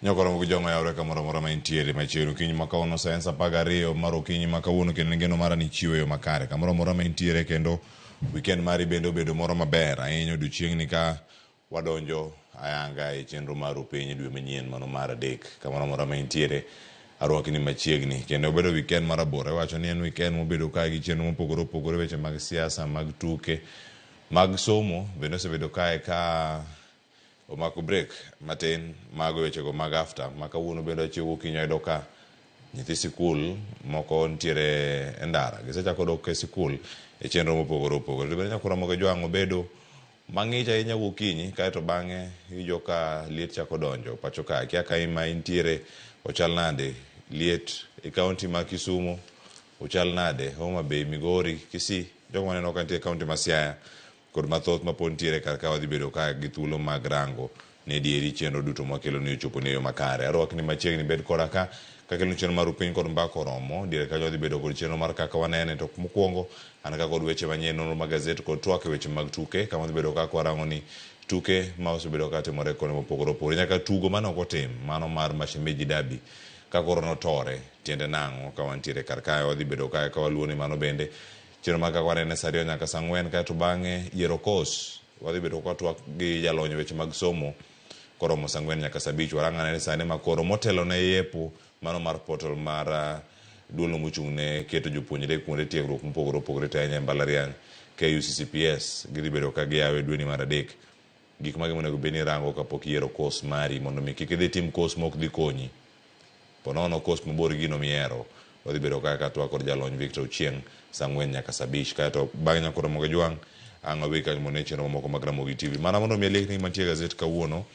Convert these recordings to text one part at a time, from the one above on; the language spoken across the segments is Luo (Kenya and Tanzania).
Nyakoro moko jong'o yawre kamoro amora ma intiere machiegni okinyi ma kawuono sa en sa apar gariyo mar okinyi ma kawuono kendo ngeno mara ni chiwo yo makare kamoro amora ma intiere kendo weekend mari bende obedo moro maber ahinya odiochieng'ni ka Wadonjo ayanga e chenro maru piny dwe manyien mano mar adek. Kamoro amora ma intiere, arwaki ni machiegni. Kendo obedo weekend ma rabora. Iwacho ni en weekend mobedo kae gi chenro mopogore opogore, weche mag siasa, mag tuke, mag somo bende osebedo kae ka omako break matin. Mago e wechego mag after ma kawuono bende achiew gokinyi ayudo ka nyithi sikul moko nitiere e ndara. Gisechako dok e sikul e chenro mopogore opogore. To bende nyaka Ramogi Ojwang' obedo Mang'ich ahinya gokinyi kae to bang'e iwinjo ka liet chako donjo pacho ka. Akia ka ma intiere ochal nade, liet e kaonti ma Kisumo ochal nade, Homa Bay, Migori, Kisii. Jogo maneno ka nitie e kaonti ma Siaya kod mathoth mapod nitiere kar ka wadhi bedo ka gi thuolo mag rango Ni adieri chenro duto mwakeloni ochoponi e yo makare. Arwakni machiegni bed koda ka. Kakelonu chenro maru piny kod mbaka oromo, diere kanyo wadhi bedo kod chenro mar kaka wanene. To mokwongo, an ka kod weche manyien, nonro mag gazet kod twak e weche mag tuke. Kama wadhi bedo ka kwarango ni tuke ma osebedo ka timore kuonde mopogore opogore. Nyaka tugo mane ok otim, mano mar Mashemeji Derby, ka koro notore. Tiende nang'o? Ka wantiere kar kae, wadhi bedo kae ka waluwo ni mano bende. Chenro mar kaka wanene sa ariyo nyaka sa ang'wen, kaeto bang'e yiero kos? Wadhi bedo ka twak gi jalony weche mag somo koromo saa ang'wen nyaka saa abich. Warang ane ni sani ma koro motelo ne yepo mano mar portal mar duolno mochung' ne keto jopuonjre kuonde tiegruok mopogore opogore to ahinya e mbalariany, KUCCPS, gidhi bedo ka giyawe dweni mar adek. Gik mage monego bed ni irango kapok iyiero course mari mondo mi kik idhi itim course ma ok dhi konyi? Ponono coast mabor gi gino mihero. Wadhi bedo kae ka twak kod jalony Victor Ochieng saa ang'wen nyaka saa abich. Kae to bang' nyako Ramogi Ojwang', ang' wadhi kaka mondo ine chenro mamoko mag Ramogi TV. Mana mondo mi aliekni gima nitie e gazet kawuono,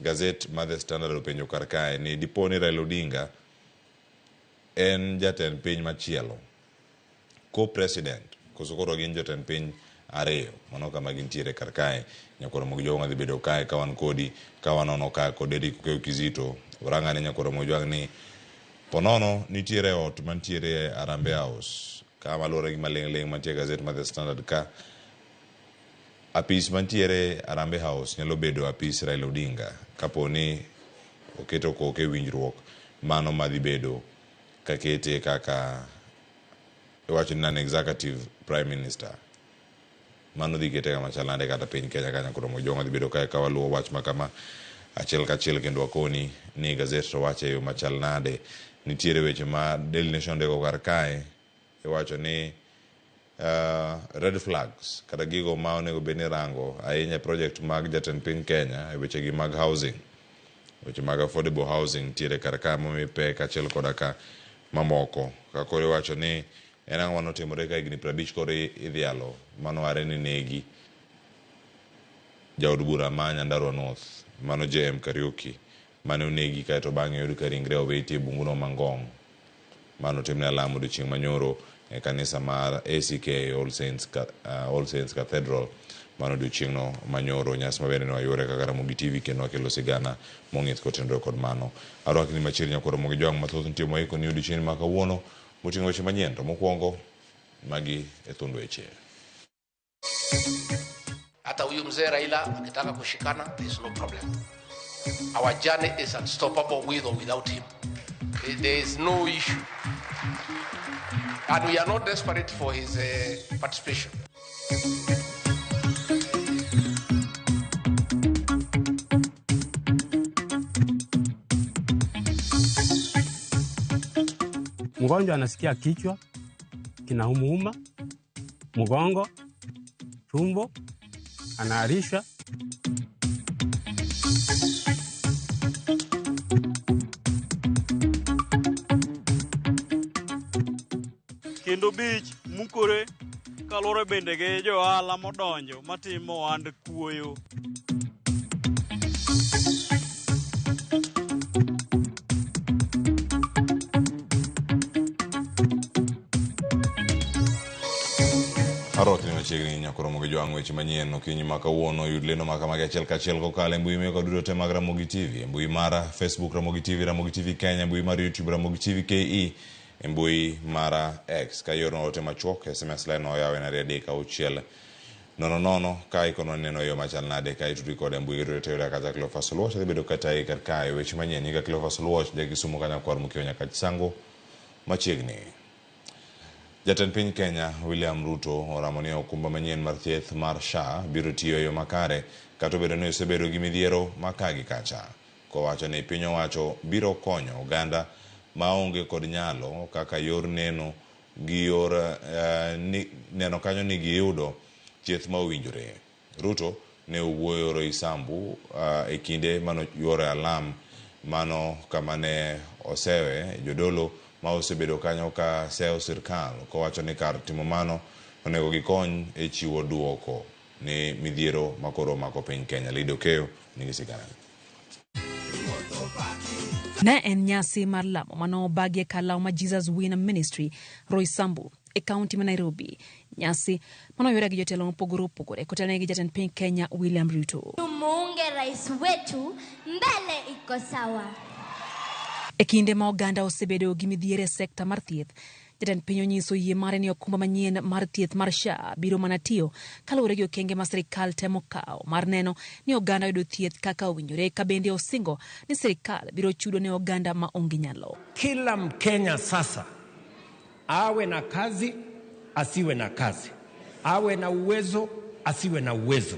gazet ma The Standard openjo kar kae ni dipo ni Raila Odinga en jatend piny machielo. co-president koso koro gin jotend piny ariyo mano kama gintiere kar kae nyakoro mogi jogo madhi bedo kae ka wan kodi ka wanono ka kod Eric Okeyo Kizito oranga ne nyakoro mogi jwang ni ponono nitiere ot mantiere Arambe House ka maluwore gi maling' ling' mantie gazet ma The Standard ka apis mantiere Arambe House nyalo bedo apis Raila Odinga kapo ni oketo koke winjruok mano madhi bedo kakete kaka iwacho ni non-executive prime minister. Mano dhi kete kama chal nade kata piny Kenya ka Nyakudo Mojong'o dhi bedo kae ka waluwo wach ma kama achiel kachiel kendo wakoni ni gazet to wacho e yo machal nade. Nitiere weche ma Daily Nation ndiko kar kae iwacho ni red flags kata gigo ma onego bed ni irango ahinya e project mag jatend piny Kenya e wechegi mag housing. Weche mag affordable housing nitiere kar ka momi pek kaachiel koda ka mamoko. Ka koro iwacho ni en ang'o mane otimore ka higni piero abich koro i- idhialo mano are ni negi jaod bura ma Nyandarua North mano JM Kariuki mane onegi kae to bang'e oyud ka ringre owiti e bunguno ma Ngong'. Ma notimne alamo odiechieng' manyoro e kanisa mar ACK All Saints, All Saints Cathedral mane odiechieng'no manyoro, nyasi ma bende ne wayuore kaka Ramogi TV kendo wakelo sigana mong'ith kotenore kod mano. Arwakni machiegni nyako Ramogi Joang' mathoth nitie moiko ni odiechieng'ni ma kawuono moting'o weche manyien to mokuongo magi e thund weche. Hata huyu mzee Raila akitaka kushikana, there is no problem. Our journey is unstoppable with or without him. There- There is no issue. And we are not desperate for his uh, participation. Mgonjwa anasikia kichwa kinaumuuma, mgongo, tumbo, anaharisha. kendo bich mukore kaluwore bende gi johala modonjo matimo ohand kuoyo Arotni machiegni nyakoro mogi jwang' weche manyien okinyi ma kawuono yud lendo ma kamagi achiel kachiel kokalo e mbui meko duto te mag Ramogi TV e mbui mara Facebook Ramogi TV Ramogi TV Kenya e mbui mar YouTube Ramogi TV KE e mbui mara X ka ioro ote machuok SMS line oyaw en ariyo adek auchiel Nono nono ka ikonwa neno yo machal nade ka itudri koda e mbui yudore to yuda kacha Cleophas Oluoch adhi bedo katayi kar kae. Weche manyien nyinga Cleophas Oluoch ja Kisumo ka nyakwar Mkiwa Nyakachisango machiegni. Jatend piny Kenya William Ruto oramo ni okumba manyien mar thieth mar SHA biro tiyo e yo makare kata obedo ni osebedo gi midhiero ma ka gi kacha. Kowacho ni piny owacho biro konyo oganda ma onge kod nyalo kaka yor neno gior ni neno kanyo ni giyudo thieth ma owinjore. Ruto ne owuoyo Roysambu e kinde mane oyuoroe alam mano kama ne osewe jodolo ma osebedo kanyo ka seyo sirkal kowacho ni kar timo mano onego gikony e chiwo duoko ni midhiero makoro omako piny Kenya. Lady Okeyo nigi sigana ni. Ne en nyasi mar lamo mane obagi e kar lawo ma Jesus Win Ministry, Roysambu, e kaunti ma Nairobi. Nyasi mane oyore gi jotelo mopogore opogore kotelne gi jatend piny Kenya William Ruto. Tumuunge rais wetu mbele iko sawa. E kinde ma oganda osebedo gi midhiero e sekta mar thieth, Jatend piny onyiso yie mare ni okumba manyien mar thieth mar SHA biro mana tiyo kaluwore gi okenge ma sirkal temo kawo mar neno ni oganda oyudo thieth kaka owinjore ka bende osingo ni sirkal biro chudo ne oganda ma onge nyalo. Kila mkenya sasa awe na kazi asiwe na kazi, awe na uwezo asiwe na uwezo.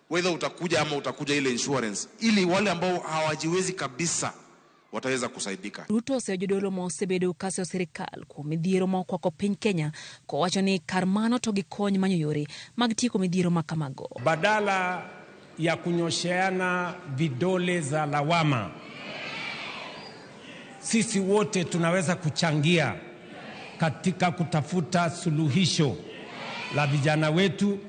whether utakuja ama utakuja ile insurance, ili wale ambao hawajiwezi kabisa wataweza kusaidika. Ruto oseyo jodolo ma osebedo ka seyo sirkal kuom midhiero ma okwako piny Kenya kowacho ni kar mano to gikony manyo yore mag tieko midhiero ma kamago. Badala ya kunyosheana vidole za lawama Sisi wote tunaweza kuchangia katika kutafuta suluhisho la vijana wetu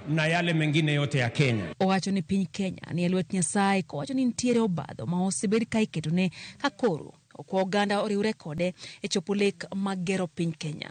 na yale mengine yote ya Kenya. Owacho ni piny Kenya ni e lwet Nyasaye kowacho ni nitiere obadho ma osebed ka iketone ka koro okwa oganda oriwre kode e chopo lek mag gero piny Kenya.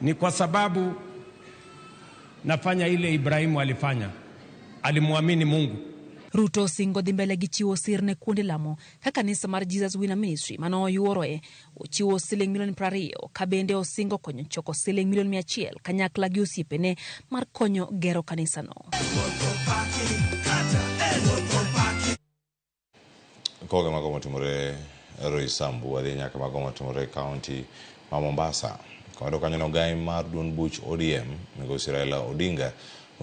Ni kwa sababu nafanya ile Ibrahimu alifanya, alimwamini Mungu. Ruto osingo dhi mbele gi chiwo sir ne kuonde lamo ka kanisa mar Jesus Winner Ministry ma noyuoroe ochiwo siling milion prariyo ka bende osingo konyo choko siling milion mia achiel kanyakla gi osiepene mar konyo gero kanisano. Kawawe mago motimore Roysambu, wadhi nyaka mago motimore kaunti ma Mombasa. Kawado kanyo no gai mar duond buch ODM, migosi Raila Odinga,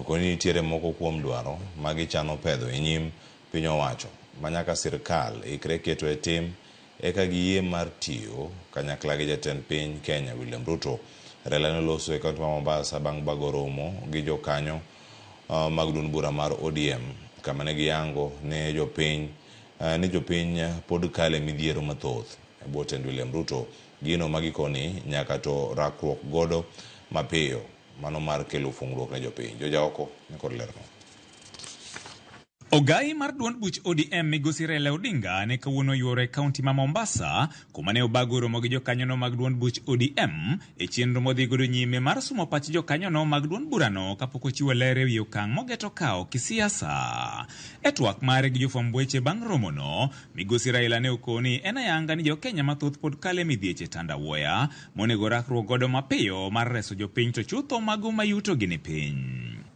okoni nitiere moko kuom dwaro ma gichano pedho e nyim piny owacho ma nyaka sirkal ikre keto e tim eka giyie mar tiyo kanyakla gi jatend piny Kenya William Ruto. Raila noloso e kaunti ma Mombasa bang' bago romo gi jokanyo mag duond bura mar ODM kama ne giyango ne jopiny ni jopiny pod kale midhiero mathoth e bwo tend William Ruto. Gino ma gikoni nyaka to rakruok godo mapiyo mano mar kelo fungruok ne jopiny. Jojaoko nikod lerno. Ogayi mar duond buch ODM migosi Raila Odinga ne kawuono yuoro e kaunti ma Mombasa kuma ne obago romo gi jokanyono mag duond buch ODM e chenro modhi godo nyime mar sumo pach jokanyono mag duond burano kapok ochiwo ler e wi okang' mogeto kawo kisiasa. E twak mare gi jofwamb weche bang' romono, migosi Raila ne okowo ni en ayanga ni jokenya mathoth pod kalo e midhieche tandawuoya monego rakruok godo mapiyo mar reso jopiny to chutho mago ma yutogi ni piny.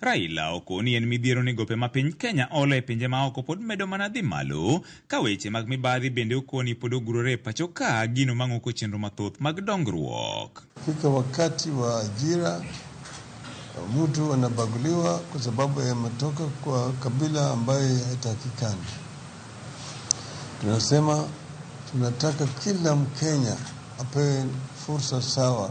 Raila okoni en midhiero ni gope ma piny Kenya olo e pinje maoko pod medo mana dhi malo, ka weche mag mibadhi bende okoni pod ogurore e pacho ka, gino mang'oko chenro mathoth mag dongruok. Fika wakati wa ajira, mtu anabaguliwa kwa sababu yametoka kwa kabila ambaye haitakikani. Tunasema tunataka kila Mkenya apewe fursa sawa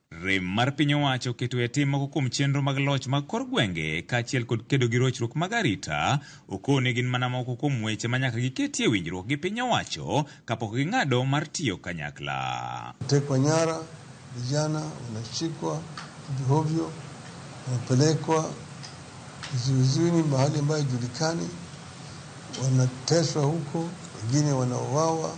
Rem mar piny owacho keto e tim moko kuom chenro mag loch mag kor gwenge kaachiel kod kedo gi rochruok mag arita okone gin mana moko kuom weche ma nyaka giketie winjruok gi piny owacho kapok ging'ado mar tiyo kanyakla. Tekwa nyara, vijana wanashikwa hovyohovyo, wanapelekwa vizuizini mahali ambayo haijulikani, wanateswa huko, wengine wanauawa.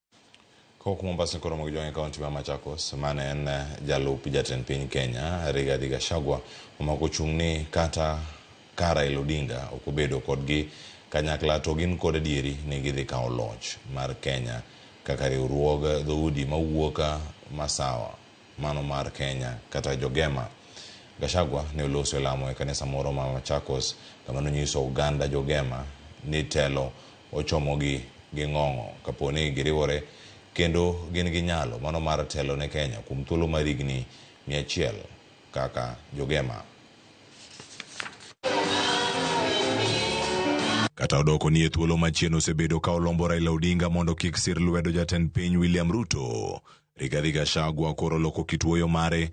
Kowuok Mombasa koro mogi jwang'e kaunti ma Machakos mane en eh, jalup jatend piny Kenya Rigathi Gachagua omako chung' ni kata ka Raila Odinga ok obedo kodgi kanyakla to gin kod adieri ni gidhi kawo loch mar Kenya kaka riwruog dhoudi mawuok eh, masawa. mano mar Kenya kata Jogema. Gachagua ne oloso e lamo e kanisa moro ma Machakos kama nonyiso oganda Jogema ni telo ochomogi gi ng'ong'o kapo ni giriwore kendo gin gi nyalo mano mar telo ne Kenya kuom thuolo mar higni mia achiel kaka Jogema. Kata odoko ni e thuolo machien osebedo ka olombo Raila Odinga mondo kik sir lwedo jatend piny William Ruto, Rigathi Gachagua koro loko kit wuoyo mare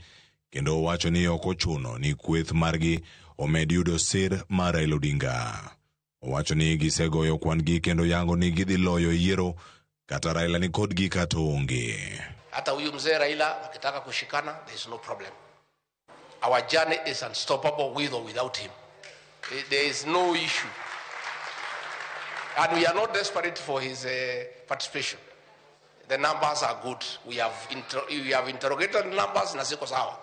kendo owacho ni ok ochuno ni kweth margi omed yudo sir mar Raila Odinga. Owacho ni gisegoyo kwan-gi kendo yango ni gidhi loyo e yiero kata Raila ni kodgi kata onge. Hata huyu mzee Raila wakitaka kushikana, there is no problem. Our journey is unstoppable with or without him. Eh, There is no issue. And we are not desperate for his uh, participation. The numbers are good. We have, inter we have interrogated numbers na ziko sawa.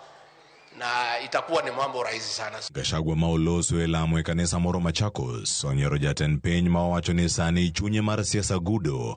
Na itakuwa ni mambo rahisi sana. Gachagua ma oloso e lamo e kanisa moro Machakos onyiero jatend piny ma owacho ni sani chunye mar siasa gudo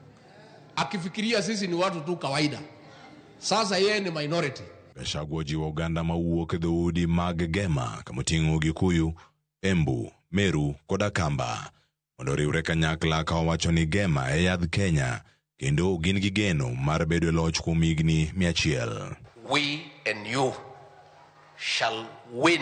akifikiria sisi ni watu tu kawaida. Sasa yeye ni minority. Gachagua ojiwo oganda mawuok e dhoudi mag Gema kama oting'o Gikuyu, Embu, Meru kod Akamba mondo oriwre kanyakla ka owacho ni Gema e yadh Kenya kendo gin gi geno mar bedo e loch kuom higni mia achiel. we and you shall win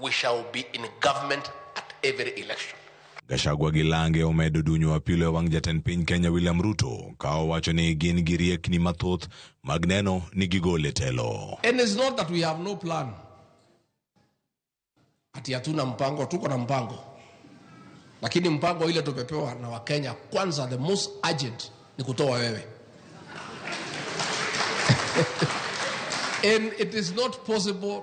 we shall be in government at every election. Gachagua gi Lange omedo dunyo apilo e wang' jatend piny Kenya William Ruto ka owacho ni gin gi riekni mathoth mag neno ni gigol e telo. And it's not that we have no plan. Ati hatuna mpango, tuko na mpango. Lakini mpango ile tumepewa na Wakenya kwanza, the most urgent ni kutoa wewe. And it is not possible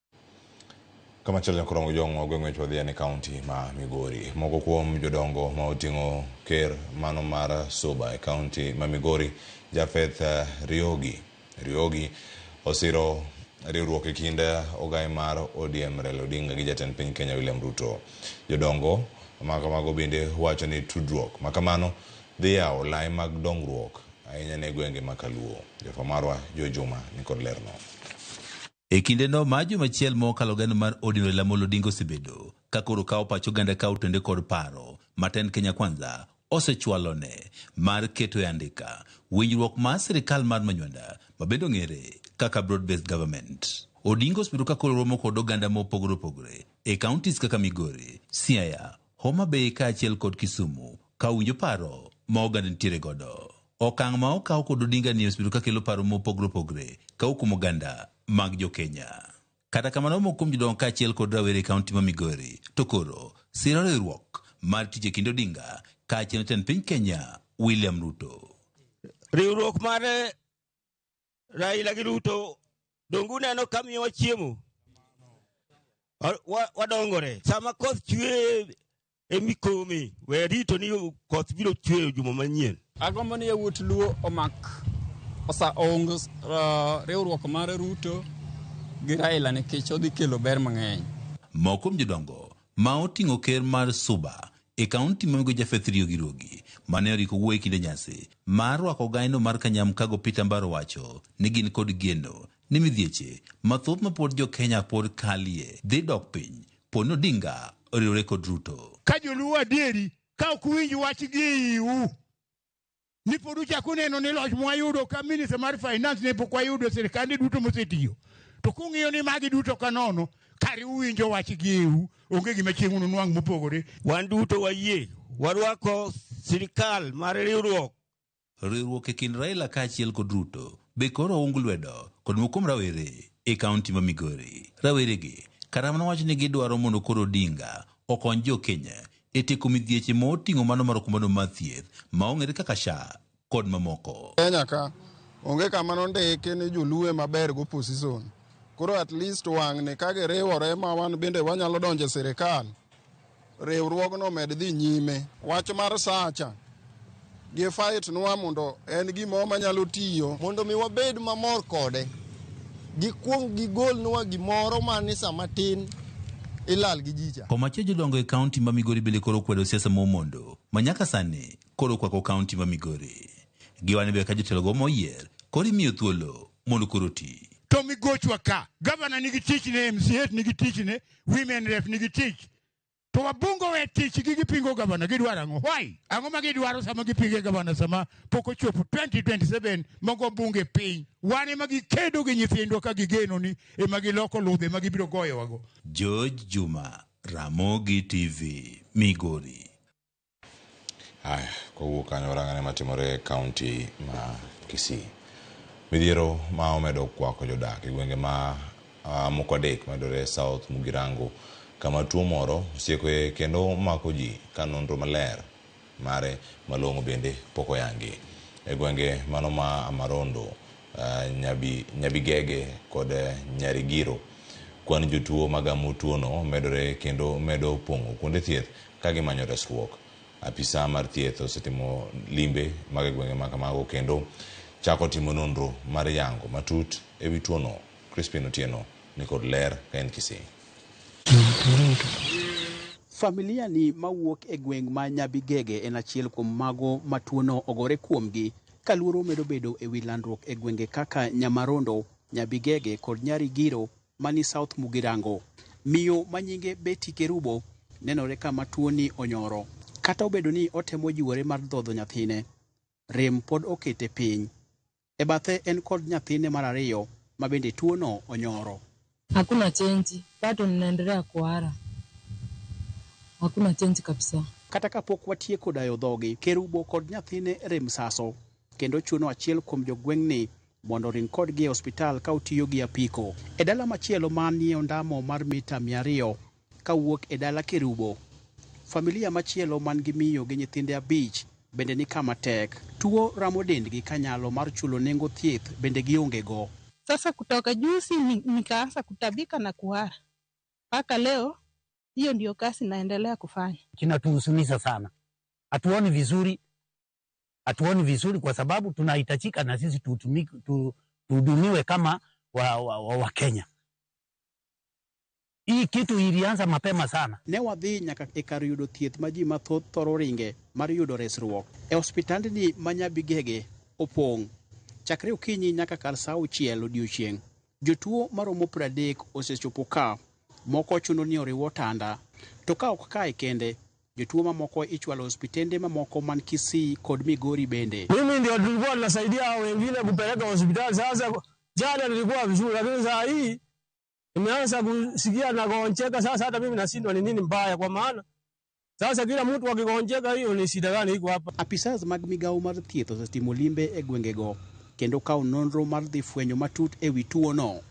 Kama chielo nyaka Orongo Jong'o ogwe ng'wech wadhi ane kaunti ma Migori. Moko kuom jodongo ma oting'o ker mano mar Suba e kaunti ma Migori, Japheth eh, Riogi Riogi osiro riwruok e kind ogae mar ODM Raila Odinga gi jatend piny Kenya William Ruto. Jodongo ma kamago bende wacho ni tudruok ma kamano dhi yawo lai mag dongruok ahinya ne gwenge ma Kaluo. Jofwamb marwa Joe Juma nikod lerno. E kindeno ma joma achiel ma okalo gano mar ODM Raila Amolo Odinga osebedo ka koro kawo pach oganda ka otwende kod paro ma tend Kenya Kwanza osechwalone mar keto e andika winjruok mar sirkal mar manywanda ma bende ong'ere kaka Broad Based Government. Odinga osebedo ka koro romo kod oganda ma opogore opogore e counties kaka Migori, Siaya, Homa Bay kaachiel kod Kisumu ka uwinjo paro ma oganda nitiere godo. Okang' ma okaw kod Odinga ni osebedo ka kelo paro mopogre opogre ka okumo oganda mag jo Kenya. Kata kamano omoko kuom jodongo kaachiel kod rawere e kaunti ma Migori to koro siro riwruok mar tich e kind Odinga kaachiel jatend piny Kenya William Ruto. Riwruok mar Raila gi Ruto donge uneno ka miyowa chiemo? Wa- wa- Wadongore. Sama koth chwe e mikomi, we rito ni koth biro chweyo juma manyien. agombo ni yawuot luo omak osa ong uh, riwruok mar ruto gi raila nikech odhi kelo ber mang'eny Moko kuom jodongo ma oting'o ker mar Suba e kaunti ma migoyo Japheth Riogi Riogi mane oriko wuoye kinde nyasi mar rwako ogaino mar Kanyamkago Peter Mbaro wacho ni gin kod geno ni midhieche mathoth ma pod jo Kenya pod kalie dhi dok piny po ni Odinga oriwore kod Ruto. Ka joluo adieri, ka ok uwinj wach gi e iu, ni pod uchako uneno ni loch mwayudo ka minister mar finance ne pok wayudo sirkande duto mosetiyo to kung'iyo ni magi duto ka nono kare uwinjo wach gieu onge gima chieng' ununwang' mopogore Wan duto wayie warwako sirkal mar riwruok. Riwruok e kind Raila kaachiel kod Ruto be koro oung lwedo kod moko kuom rawere e kaunti ma Migori. Raweregi kata mana wacho ni gidwaro mondo koro Odinga okony jo Kenya e tieko midhieche ma oting'o mano mar okumbano mar thieth ma ong'ere kaka SHA kod mamoko. Kenya ka onge kama nondiki ni joluo ema ber go position. Koro at least wang'ni ka giriwore ma wan bende wanyalo donjo e sirikal, riwruogno omed dhi nyime. Wach mar SHA cha, Gie fight nwa mondo en gimo manyalo tiyo. Mondo mi wabed mamor kode. Gikwong gigol nwa gimoro ma ni sama tin ilal gi jicha. Omache jodongo e kaunti ma Migori bende koro okwedo siasa ma Omondo ma nyaka sani koro okwako kaunti ma Migori. Giwane be ka jotelogo ma oyier koro imiyo thuolo mondo koro oti. To migochwa ka. Gavana nigi tichne, MCAs nigi tichne, Women Rep nigi tich. To wabungo we tichgi gipingo gavana gidwaro ang'o? Why? Ang'o ma gidwaro sama gipinge gavana sama pok ochopo 2027 mogo bunge piny. Wan ema gikedo gi nyithindwa ka gigeno ni ema giloko ludhe ma gibiro goyowago. George Juma, Ramogi TV, Migori. Haya, kowuok kanyo warang ane matimore e kaunti ma Kisii. Midhiero ma omedo kwako jodak e gwenge ma ah, moko adek mayudore South Mugirango kama tuo moro osiekoe kendo mako ji ka nonro maler mare malong'o bende pok oyangi. E gwenge mano ma Amarondo, ah, Nyabi, Nyabigege kod eh, Nyarigiro, kwan jotuo magamo tuono medore kendo medo pong'o kuonde thieth ka gimanyo resruok. Apisa mar thieth osetimo limbe mag e gwenge ma kamago kendo chako timo nonro mar yango matut e wi tuono. Crispin Otieno ni kod ler ka en Kisii. Familia ni mawuok e gweng' ma Nyabigege en achiel kuom mago ma tuono ogore kuomgi ka luoro medo bedo e wi landruok e gwenge kaka Nyamarondo, Nyabigege kod Nyarigiro mani South Mugirango. Miyo ma nyinge Betty Kerubo nenore kama tuoni onyoro. Kata obedo ni otemo jiwore mar dhodho nyathine, rem pod okete piny. E bathe en kod nyathine mar ariyo ma bende tuono onyoro. Hakuna change bado ninaendelea kuhara hakuna change kabisa. Kata ka pok watieko dayo dhogi, Kerubo kod nyathine rem saso kendo chuno achiel kuom jogweng'ni mondo oring kodgi e ospital ka otiyo gi apiko. E dala machielo man nie ondamo mar mita 200 ka wuok e dala Kerubo, familia machielo man gi miyo gi nyithinde abich bende ni kama tek. Tuo ramo dendgi ka nyalo mar chulo nengo thieth bende gionge go. Sasa kutoka juzi nikaanza kutabika na kuhara mpaka leo hiyo ndio kazi naendelea kufanya. Kinatuhusunisha sana, hatuoni vizuri hatuoni vizuri, kwa sababu tunahitajika na sisi tutumiki- tu- tuhudumiwe kama wa, wa, wa, wa Kenya. Hii kitu ilianza mapema sana. Ne wadhi nyaka e kar yudo thieth ma ji mathoth thoro ringe mar yudo resruok. E hospitandni ma Nyabigege opong' chakre okinyi nyaka kar sa auchiel odiechieng'. Jotuo maromo pradek osechopo ka, moko chuno ni oriw otanda. To ka ok kae kende, Jotuo mamoko ichwalo hospitende mamoko man Kisii kod Migori bende. Mimi ndio tulikuwa tunasaidia hao wengine kupeleka hospitali. Sasa jana nilikuwa vizuri, lakini saa hii nimeanza kusikia nagonjeka. Sasa hata mimi nashindwa ni nini mbaya, kwa maana sasa kila mtu akigonjeka, hiyo ni shida gani iko hapa? Apisas mag migawo mar thieth osetimo limbe e gwengego kendo kawo nonro mar dhi fwenyo matut e wi tuono.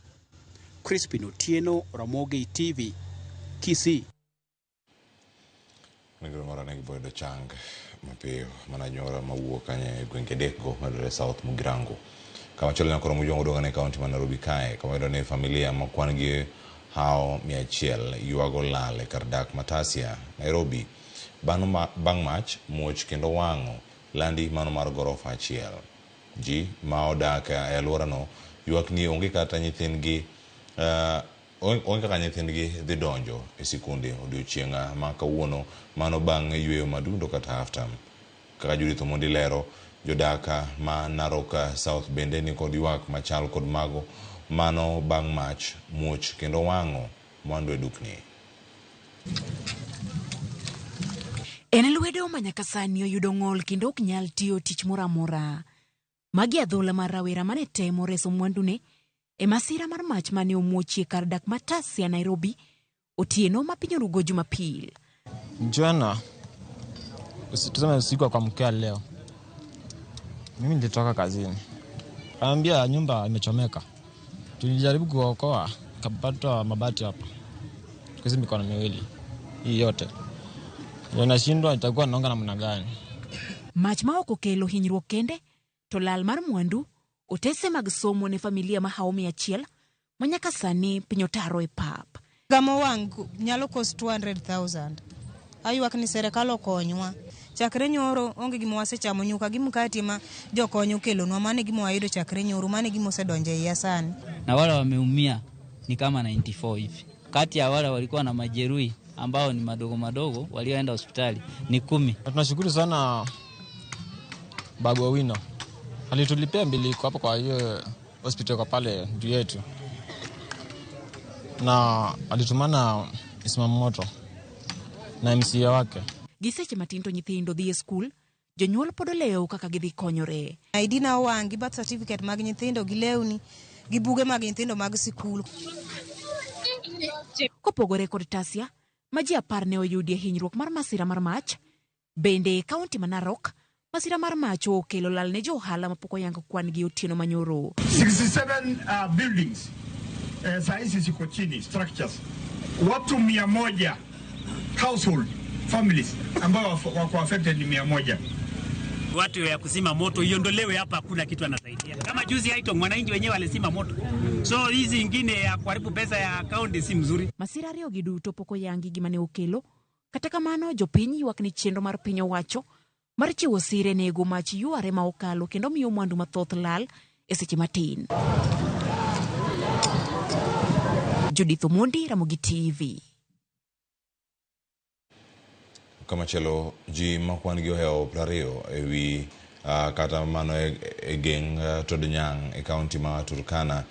Crispin Otieno, Ramogi TV, Kisii. Onego moro ne boyudo chang mapiyo mana anyuola mawuok kanye e gwenge adekgo mayudore South Mugirango. Kama chielo nyakoro Mugirango dongane kaunti ma Nairobi kae kama wayudo ni familia ma kwan gi hawo mia achiel yuago lal e kar dak ma Tasia, Nairobi bang mach muoch kendo wang'o landi mano mar gorofa achiel. Ji ma odak e aluorano yuak ni onge kata nyithindgi. Onge kaka nyithindgi dhi donjo e sikunde odiochienga ma kawuono mano bang yueyo madundo kata after. Kaka Judith Omondi lero, jodak ma Narok South bende nikod yuak machal kod mago mano bang mach, muoch kendo wango mwandu e dukni. En lwedo ma nyaka sani oyudo ng'ol kendo ok nyal tiyo tich moro amora. Magi adhola mar rawera mane temo reso mwandune e masira mar mach mane omuochie kar dak ma Tasia Nairobi otieno ma piny orugo Jumapil. Jana usi- tuseme usiku wa kuamkia leo, mimi nilitoka kazini, kaambia nyumba imechomeka, Tulijaribu kuwaokoa, kapata mabati hapa kuzi mikono miwili hii yote yanashindwa, itakuwa naonga namna gani? Mach ma ok okelo hinyruok kende, to lal mar mwandu, otese mag somo ne familia ma hawo mia achiel ma nyaka sani piny otaro e pap. Gamo wang' nyalo cost 200,000. Aywak ni serikal okonywa. Chakre nyoro onge gima wasechamo nyuka gi mkati ma jokony okelonwa mane gima wayudo chakre nyoro mane gima osedonje iya sani. Na wale wameumia ni kama 94 hivi. Kati ya wale walikuwa na majeruhi ambao ni madogo madogo walioenda hospitali ni kumi. Na tunashukuru sana Babu Owino alitulipia mbili kwa hapo kwa hiyo Hospitali kwa pale juu yetu, na alitumana Isma Moto na MCA wake. Gi seche matin to nyithindo dhi e skul, jonyuol pod olewo kaka gidhi konyore. ID na owang' gi birth certificate mag nyithindo gi lewni gi buge mag nyithindo mag sikul. Kopogore kod Tasia ma ji apar ne oyudie hinyruok mar masira mar mach, Bende e kaunti ma Narok, masira mar mach okelo lal ne jo ohala mapok oyang kwan gi otieno manyoro. 67 uh, buildings eh, saa hizi ziko chini structures, watu mia moja household families ambao waf- wako affected ni mia moja. watu ya kuzima moto iondolewe hapa, hakuna kitu anasaidia. Kama juzi Haitong, wananchi wenyewe walizima moto, so hizi ingine ya kuharibu pesa ya kaunti si mzuri. Masira ariyogi duto pok oyangi gima ne okelo, Kata kamano, jopiny ywak ni chenro mar piny owacho mar chiwo sire nego mach yware ma okalo kendo miyo mwandu mathoth lal e seche matin. Judith Omondi, Ramogi TV. Kamachielo, ji ma kwan-gi ohewo prariyo e wi uh, kata mano e, e geng uh, Todnyang e kaunti ma Turkana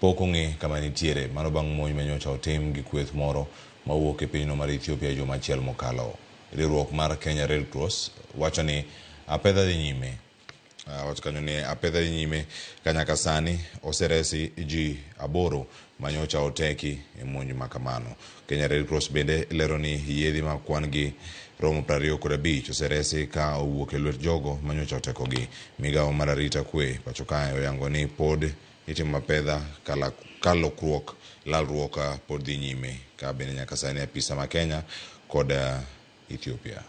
Pok ong'e kama nitiere. Mano bang' monj ma nyocha otim gi kweth moro ma wuok e pinyno mar Ethiopia juma achiel mokalo. Riwruok mar Kenya Red Cross wacho ni apedha dhi nyime. Wacho kanyo ni apedha dhi nyime ka nyaka sani oseresi ji aboro ma nyocha oteki e monj ma kamano. Kenya Red Cross bende lero ni yiedhi ma kwan gi romo prariyo kod abich oseresi ka owuok e lwet jogo ma nyocha otekogi. Migawo mar arita kwe pacho kae oyango ni pod Itimo apedha ka lokruok, lalruok pod dhi nyime ka bende nyaka sani apisa ma Kenya kod Ethiopia.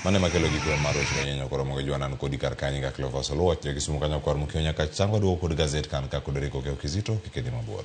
Mano ema kelo giko mar weche manyenyo koro mogo jwanan kodi kar kanyi ga Cleophas Oluoch jo Kisumu kanyo kwar mukio nyaka chango duogo kod gazet kan ka kudori koke okizito kikedi mabor.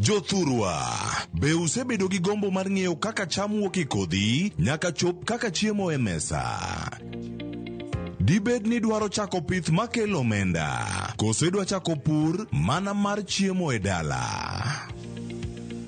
Jothurwa, be usebedo gi gombo mar ng'eyo kaka cham wuok e kodhi nyaka chop kaka chiemo e mesa? Dibed ni dwaro chako pith makelo omenda, koso idwa chako pur mana mar chiemo e dala?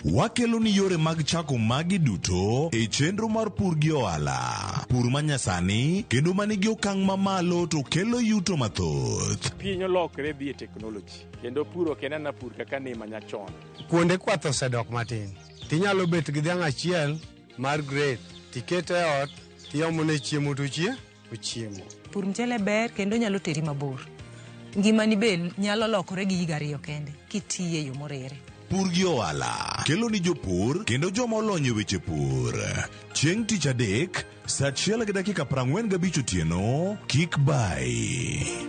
Wakelo ni yore mag chako magi duto e chenro mar pur gi ohala. Pur manyasani kendo manigi okang' mamalo to kelo yuto mathoth. piny olokre dhi e teknoloji kendo puro kendo na pur kaka ni ma nyachon. Kuonde kwath osedok matin. Tinyalo bet gi dhiang' achiel mar grade, tikete e ot, tiomone chiemo tochie, ochiemo. Pur mchele ber kendo nyalo teri mabor. Ngimani be nyalo lokore gi higa ariyo kende kitiye e yo morere. Pur gi ohala kelo ni jopur kendo joma olony e weche pur. Chieng' tich adek, saa achiel gi dakika prang'wen gabich otieno, kik bay.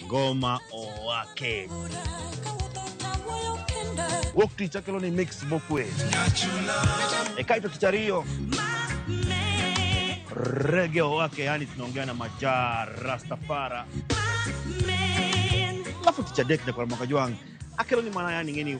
ngoma owake. Wuok tich akelo ni mix mokwe. E kaito tich ariyo rege owake, yani tunaongea na majaa rastafara. Alafu tich adek nyakwar mwaka jwang akelo ni mana yani ngeni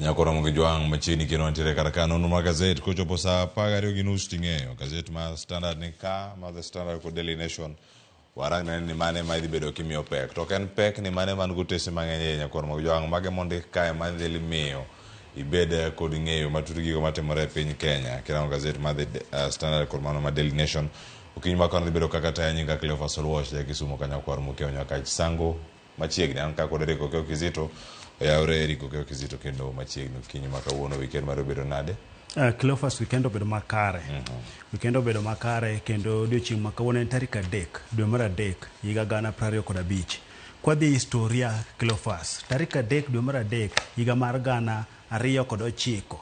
Nyako romo gi jwang' machiegni kendo wantiere kar ka nonro mar gazet kochopo saa apar gariyo gi nus ting'eyo gazet mar Standard ni ka mar The Standard kod Daily Nation warang nene ni mane ma idhi bedo kimiyo pek to ok en pek ni mane man gotese mang'eny e nyako romo gi jwang' mage mondik kae ma dhi miyo ibed kod ng'eyo matut gigo matimore e piny Kenya kirango gazet mar The uh, Standard kod mano mar Daily Nation okinyi ma kano dhi bedo kaka taya nyinga Cleophas Oluoch ja Kisumo kanyakwar Mukeo Nyakach Sango machiegni an kaka odere kokeo kizito oyawre eri kokeo kizito kendo machiegni kinyi ma kawuono weekend mar obedo nade Uh, Cleophas weekend obedo makare mm -hmm. weekend obedo makare kendo odiochieng' ma kawuono en tarik adek dwe mar adek higa gana prariyo kod abich kwadhi e historia Cleophas tarik adek dwe mar adek higa mar gana ariyo kod ochiko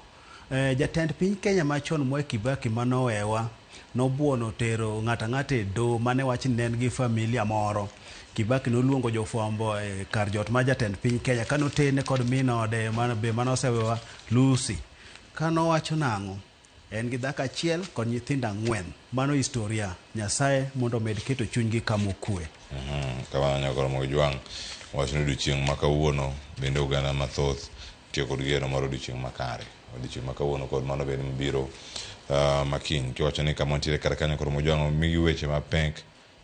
Jatend piny Kenya machon Mwai Kibaki mane owewa nobuono tero ng'ato ang'ata e doho mane wach ni ne en gi familia moro. Kibaki noluongo jofwambo e kar jot mar jatend piny Kenya kane otene kod min ode be mane osewewa Lucy. Kane owacho nang'o? En gi dhako achiel kod nyithindo ang'wen. Mano historia. Nyasaye mondo omed keto chunygi kama okue. Kamano nyako Ramogi Ojwang' owacho ni odiochieng' ma kawuono bende oganda mathoth Tiyo kod geno mar odiechieng' makare, odiechieng' ma kawuono kod mano bende mabiro ah, ma kiny. Kiwacho ni kama wantiere kar kanyo koro mojwang'o migi weche mapek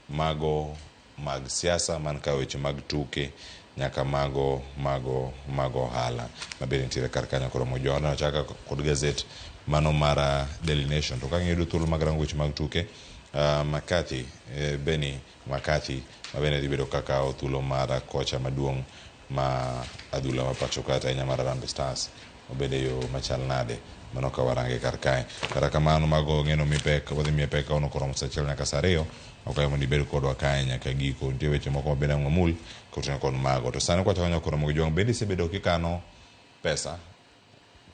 mago mag siasa man ka weche mag tuke nyaka mago mago mag ohala mabende nitiere kar kanyo koro mojwang'o. Nachaka kod gazet mano mar ah, Daily Nation to ka ang'e yudo thuolo mag rango weche mag tuke ah, McCarthy eh, Benny McCarthy mabende dhi bedo kakawo thuolo mar ah, kocha maduong' ma adhula ma pacho kata ahinya mar Harambee Stars obed e yo machal nade mano ka warange kar kae kata kamano mago ng'eno mi pek wadhi miye pek kaono koromo sa achiel nyaka sa ariyo okayo mondo ibed kodwa kae nyaka giko nitie weche moko mabende ang'we mul koting'o kod mago to sani kwachako nyaka koromo gi jwang' bende isebedo kikano pesa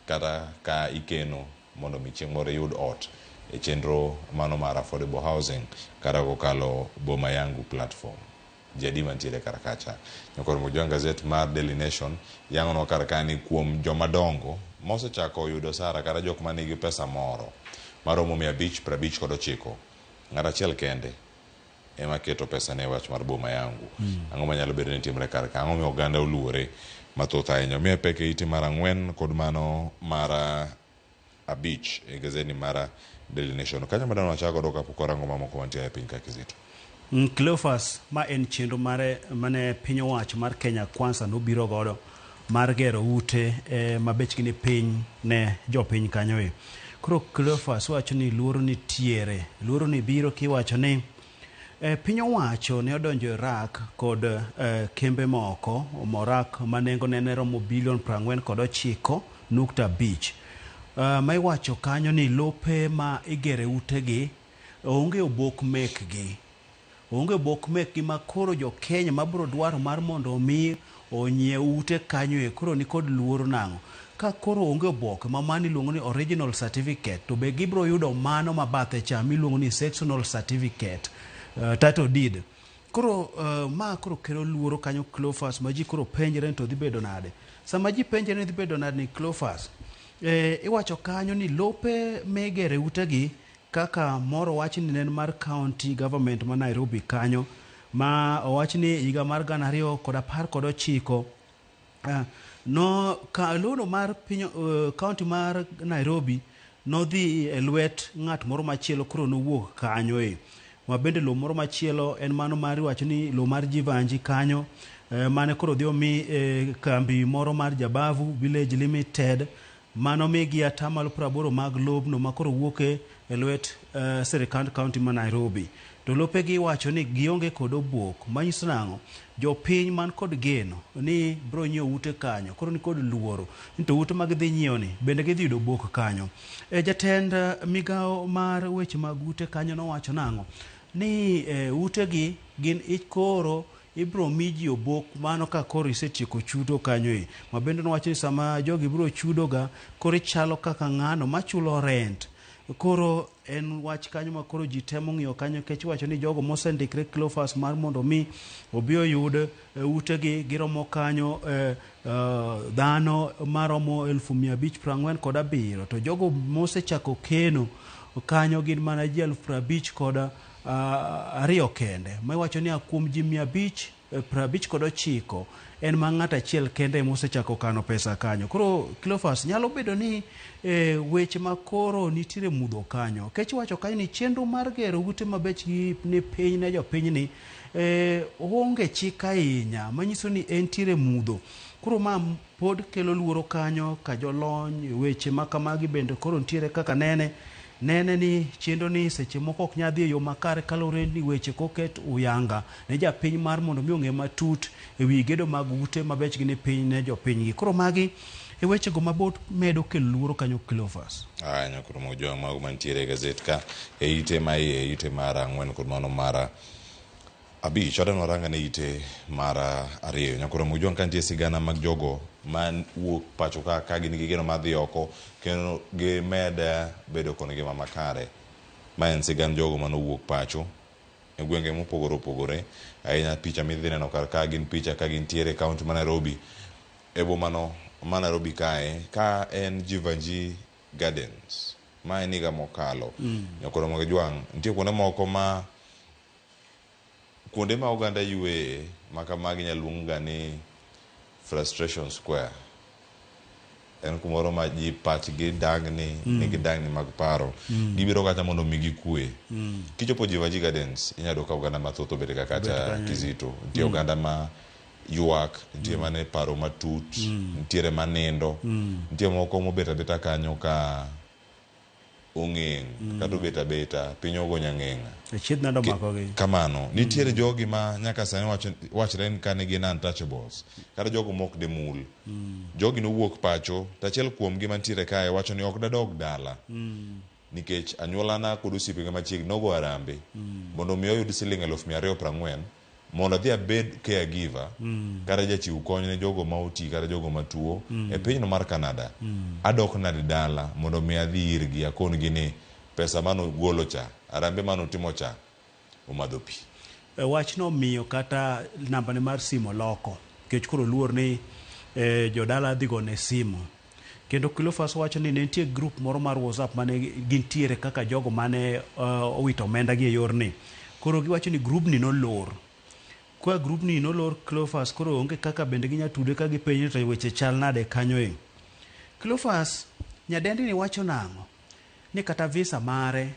kata ka ikeno mondo mi chieng' moro iyud ot e chenro mano mar affordable housing kata kokalo Boma Yangu platform. Jadi mantiere kar kacha. Nyakor Mujwang Gazette mar Daily Nation yang'onwa kar ka ni kuom joma dongo mosechako yudo osara kata jok ma nigi pesa moro maromo mia abich prabich kod ochiko, ng'at achiel kende, ema keto pesane e wach mar Boma Yangu. Ang'o manyalo bedo ni timre kar ka? Ang'o momiyo oganda oluore mathoth ahinya? Omiye pek e ite mar ang'wen kod mano mar ah, abich e gazedni mar ah, Daily Nation. Kanyo ema dang' wachak godo kapok warango mamoko mantie e piny ka Kizito. Mm, Cleophas, ma en chenro mare mane piny owacho mar Kenya Kwanza nobiro godo mar gero ute e, ma bechgi ni piny ne jopiny kanyo e. Koro Cleophas wacho ni luoro nitiere. Luoro ni biro kiwacho ni e, piny owacho ne odonjo e rak kod e, kembe moko morak ma nengo ne ne romo bilion prang'wen kod ochiko nukta abich. E, ma iwacho kanyo ni lope ma igere utegi onge obok mekgi. Onge bok mekgi ma koro jo Kenya ma bro dwaro mar mondo omi onyiew ute kanyo e koro nikod luoro nang'o? Ka koro onge oboke ma mano iluongo ni original certificate to be gibro yudo mano ma bathe cha miluongo ni sectional certificate, title deed. Koro ma koro kelo luoro kanyo Cleophas ma ji koro penjre ni to dhi bedo nade. Sama ji penjre ni dhi bedo nade ni Cleophas, iwacho kanyo ni lope migere ute gi, Kaka moro wachni ne en mar County Government ma Nairobi kanyo ma owach ni higa mar gana ariyo kod apar kod ochiko no ka lono mar piny County mar Nairobi nodhi e lwet ng'at moro machielo koro nowuok kanyo e. Ma bende lo moro machielo en mano mar iwacho ni lo mar Jivanji kanyo mane koro dhi omi kambi moro mar Jabavu Village Limited ma nomigi ata malo praboro mag lobno ma koro wuok e lwet sirikand kaunti ma Nairobi. To lopegi iwacho ni gionge kod obuok, manyiso nang'o? Jopiny man kod geno ni biro nyiewo ute kanyo koro nikod luoro ni to ute ma gidhi nyiewo ni bende gidhi yudo obuok kanyo. Jatend migawo mar weche mag ute kanyo nowacho nang'o? Ni utegi gin koro Ibiro mi ji obok mano ka koro isetieko chudo kanyo e. Ma bende nowacho ni sama jogi biro chudoga, koro ichalo kaka ng'ano machulo rent. Koro en wach kanyo ma koro ji temo ng'iyo kanyo nikech iwacho ni jogo mosendikre Cleophas mar mondo omi obi oyud eh, utegi giromo kanyo eh, eh, dhano maromo elfu mia abich piero ang'wen kod abiriyo to jogo mosechako keno kanyo gin mana ji elfu piero abich kod ariyo kende ma iwacho ni a kuom ji mia abich eh, prabich kod ochiko en ma ng'at achiel kende ema osechako kano pesa kanyo. Koro Cleophas, nyalo bedo ni e, weche ma koro nitiere mudho kanyo. Kech wacho kanyo ni chenro mar gero ute mabechgi ni piny ne jopinyni e, onge chik ahinya manyiso ni entiere mudho. Koro ma Pod kelo luoro kanyo ka jolony e weche ma kamagi bende koro nitiere kaka nene. Nene ni chenro ni seche moko ok nyal dhi e yo makare kalure ni weche koket uyanga ne japiny mar mondo mi ong'e matut e wi gedo mag ute mabechgi ni piny ne jopinygi. Koro magi e weche go mabot medo kelo luoro kanyo Cleophas. Aya nyakoro moko jowa mago mantiere e gazet ka e ite ma iye, ite mar ang'wen kod mano mar Abich, Adam noranga ne ite mar ariyo. Nyakoro Mujwang ka nitie sigana mag jogo ma wuok pacho ka ka gin gi geno mar dhi oko kendo gimed bedo kod ngima makare. Ma en sigand jogo mane owuok pacho e gwenge mopogore opogore. Ahinya picha midhi neno kar ka gin picha ka gintiere e kaunti ma Nairobi. E boma no ma Nairobi kae ka en Jivanji Gardens. Ma en higa mokalo. Nyakoro Mujwang' nitie kuonde moko ma Kuonde ma oganda yueye ma kamagi inyalo luongga ni frustration square. En kumoro ma ji pachgi dang'ni, mm. nigi dang'ni mag paro. Mm. Gibiro kata mondo omigi kue. Mm. Kichopo Jivaji Gardens, inyalo yudo ka oganda mathoth obet ga kata Kizito. Nitie mm. oganda ma ywak, nitie mm. mane paro matut, mm. nitiere manindo, mm. nitie moko mobet abeta kanyo ka ong'eng' kata obet abeta piny ogo nyang'eng'a. Achiedh nade omakogi? Kamano, nitiere jogi ma nyaka sani wacho, wachre ni kane gin untouchables, kata jogo mok demul. Jogi nowuok pacho, to achiel kuomgi mantiere kae wacho ni ok dadog dala nikech anyuolana kod osiepega machiegni nogo harambe mondo mi oyud siling' eluf mia ariyo prang'wen, mondo adhi abed caregiver kata jachiw kony ne jogo ma oti kata jogo ma tuo e pinyno mar Canada, adok nade dala mondo mi adhi irgi akongi ni pesa mane ugolo cha, harambee mane utimo cha omadho pi. E, wachno omiyo kata nambane mar simu oloko nikech koro oluor ni e, jodala dhi gone simu. Kendo Cleophas wacho ni ne nitie group moro mar WhatsApp mane gintiere kaka jogo mane uh, owito omenda gi e yorni. Koro giwacho ni grubni nolor. Kwa grubni nolor Cleophas koro onge kaka bende ginya tude ka gipenjo ni to weche chal nade kanyo e. Cleophas nyadendi ni wacho nang'o? Ni kata visa mare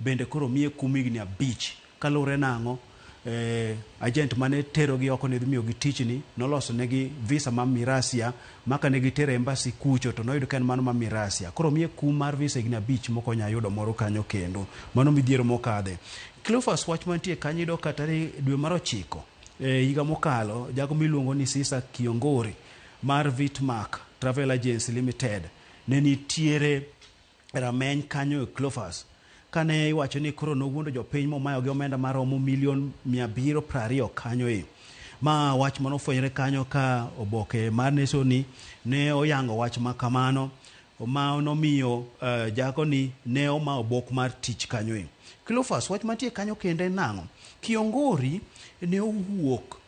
Bende koro omiye kum higni abich. Kaluwore nang'o? Eeh, ajent mane terogi oko nedhi miyogi tich ni, noloso negi visa ma mirasia ma kane gitero e embassy kucho to noyud ka en mano ma mirasia. Koro omiye kum mar visa higni abich mok onya yudo moro kanyo kendo. Mano midhiero mokadhe. Cleophas wach mantie kanyo iyudo ka tarik dwe mar ochiko e higa mokalo jago miluongo ni Sisa Kiongori mar Vitmark Travel Agency Limited ne nitiere rameny kanyo e Clofas. Kane iwacho ni koro nowuondo jopiny momayo gi omenda maromo milion mia abiriyo prariyo kanyo e. Ma wach mane ofwenyore kanyo ka oboke mar nesoni ne oyango wach ma kamano ma nomiyo jakoni ne oma obok mar tich kanyo e. Clofas, wach mantie kanyo kendo en nang'o? Kiongori ne owuok.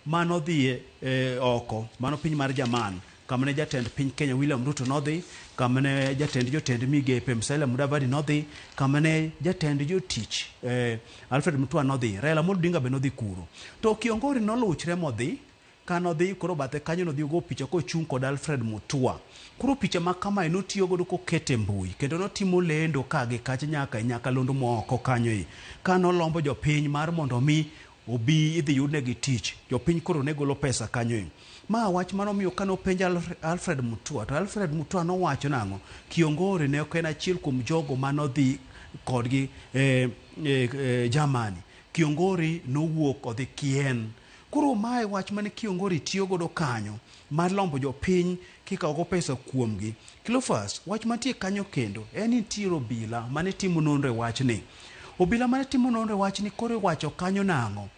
ma nodhi oko, mano piny mar Jerman, kama ne jatend piny Kenya William Ruto nodhi, kama ne jatend jotend migepe Musalia Mudavadi nodhi, kama ne jatend jotich eh, Alfred Mutua nodhi, Raila Amolo Odinga be nodhi kuro. To Kiongori noluchre modhi ka nodhi koro bathe kanyo nodhi ogo picha kochung' kod Alfred Mutua. Koro picha ma kamae notiyo godo kokete mbui kendo notimo lendo ka gi kacha nyaka e nyakalondo moko kanyo e ka nolombo jopiny mar mondo mi Obi idhi yudnegi tich. Jopiny koro ne golo pesa kanyo e. Ma wach mane omiyo kane openj Alfred Mutua to Alfred Mutua nowacho nang'o? Kiongori ne ok en achiel kuom jogo mane odhi kodgi e Germany. Kiongori nowuok odhi Kien. Koro ma e wach mane Kiongori tiyo godo kanyo. mar lombo jopiny kikawogo pesa kuomgi. Cleophas, wach mantie kanyo kendo en ni nitiere obila mane timo nonro e wachni. Obila mane timo nonro e wachni koro iwacho kanyo nang'o?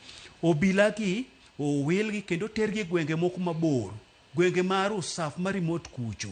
Obilagi owilgi kendo otergi e gwenge moko mabor, gwenge ma Rusaf ma remote kucho.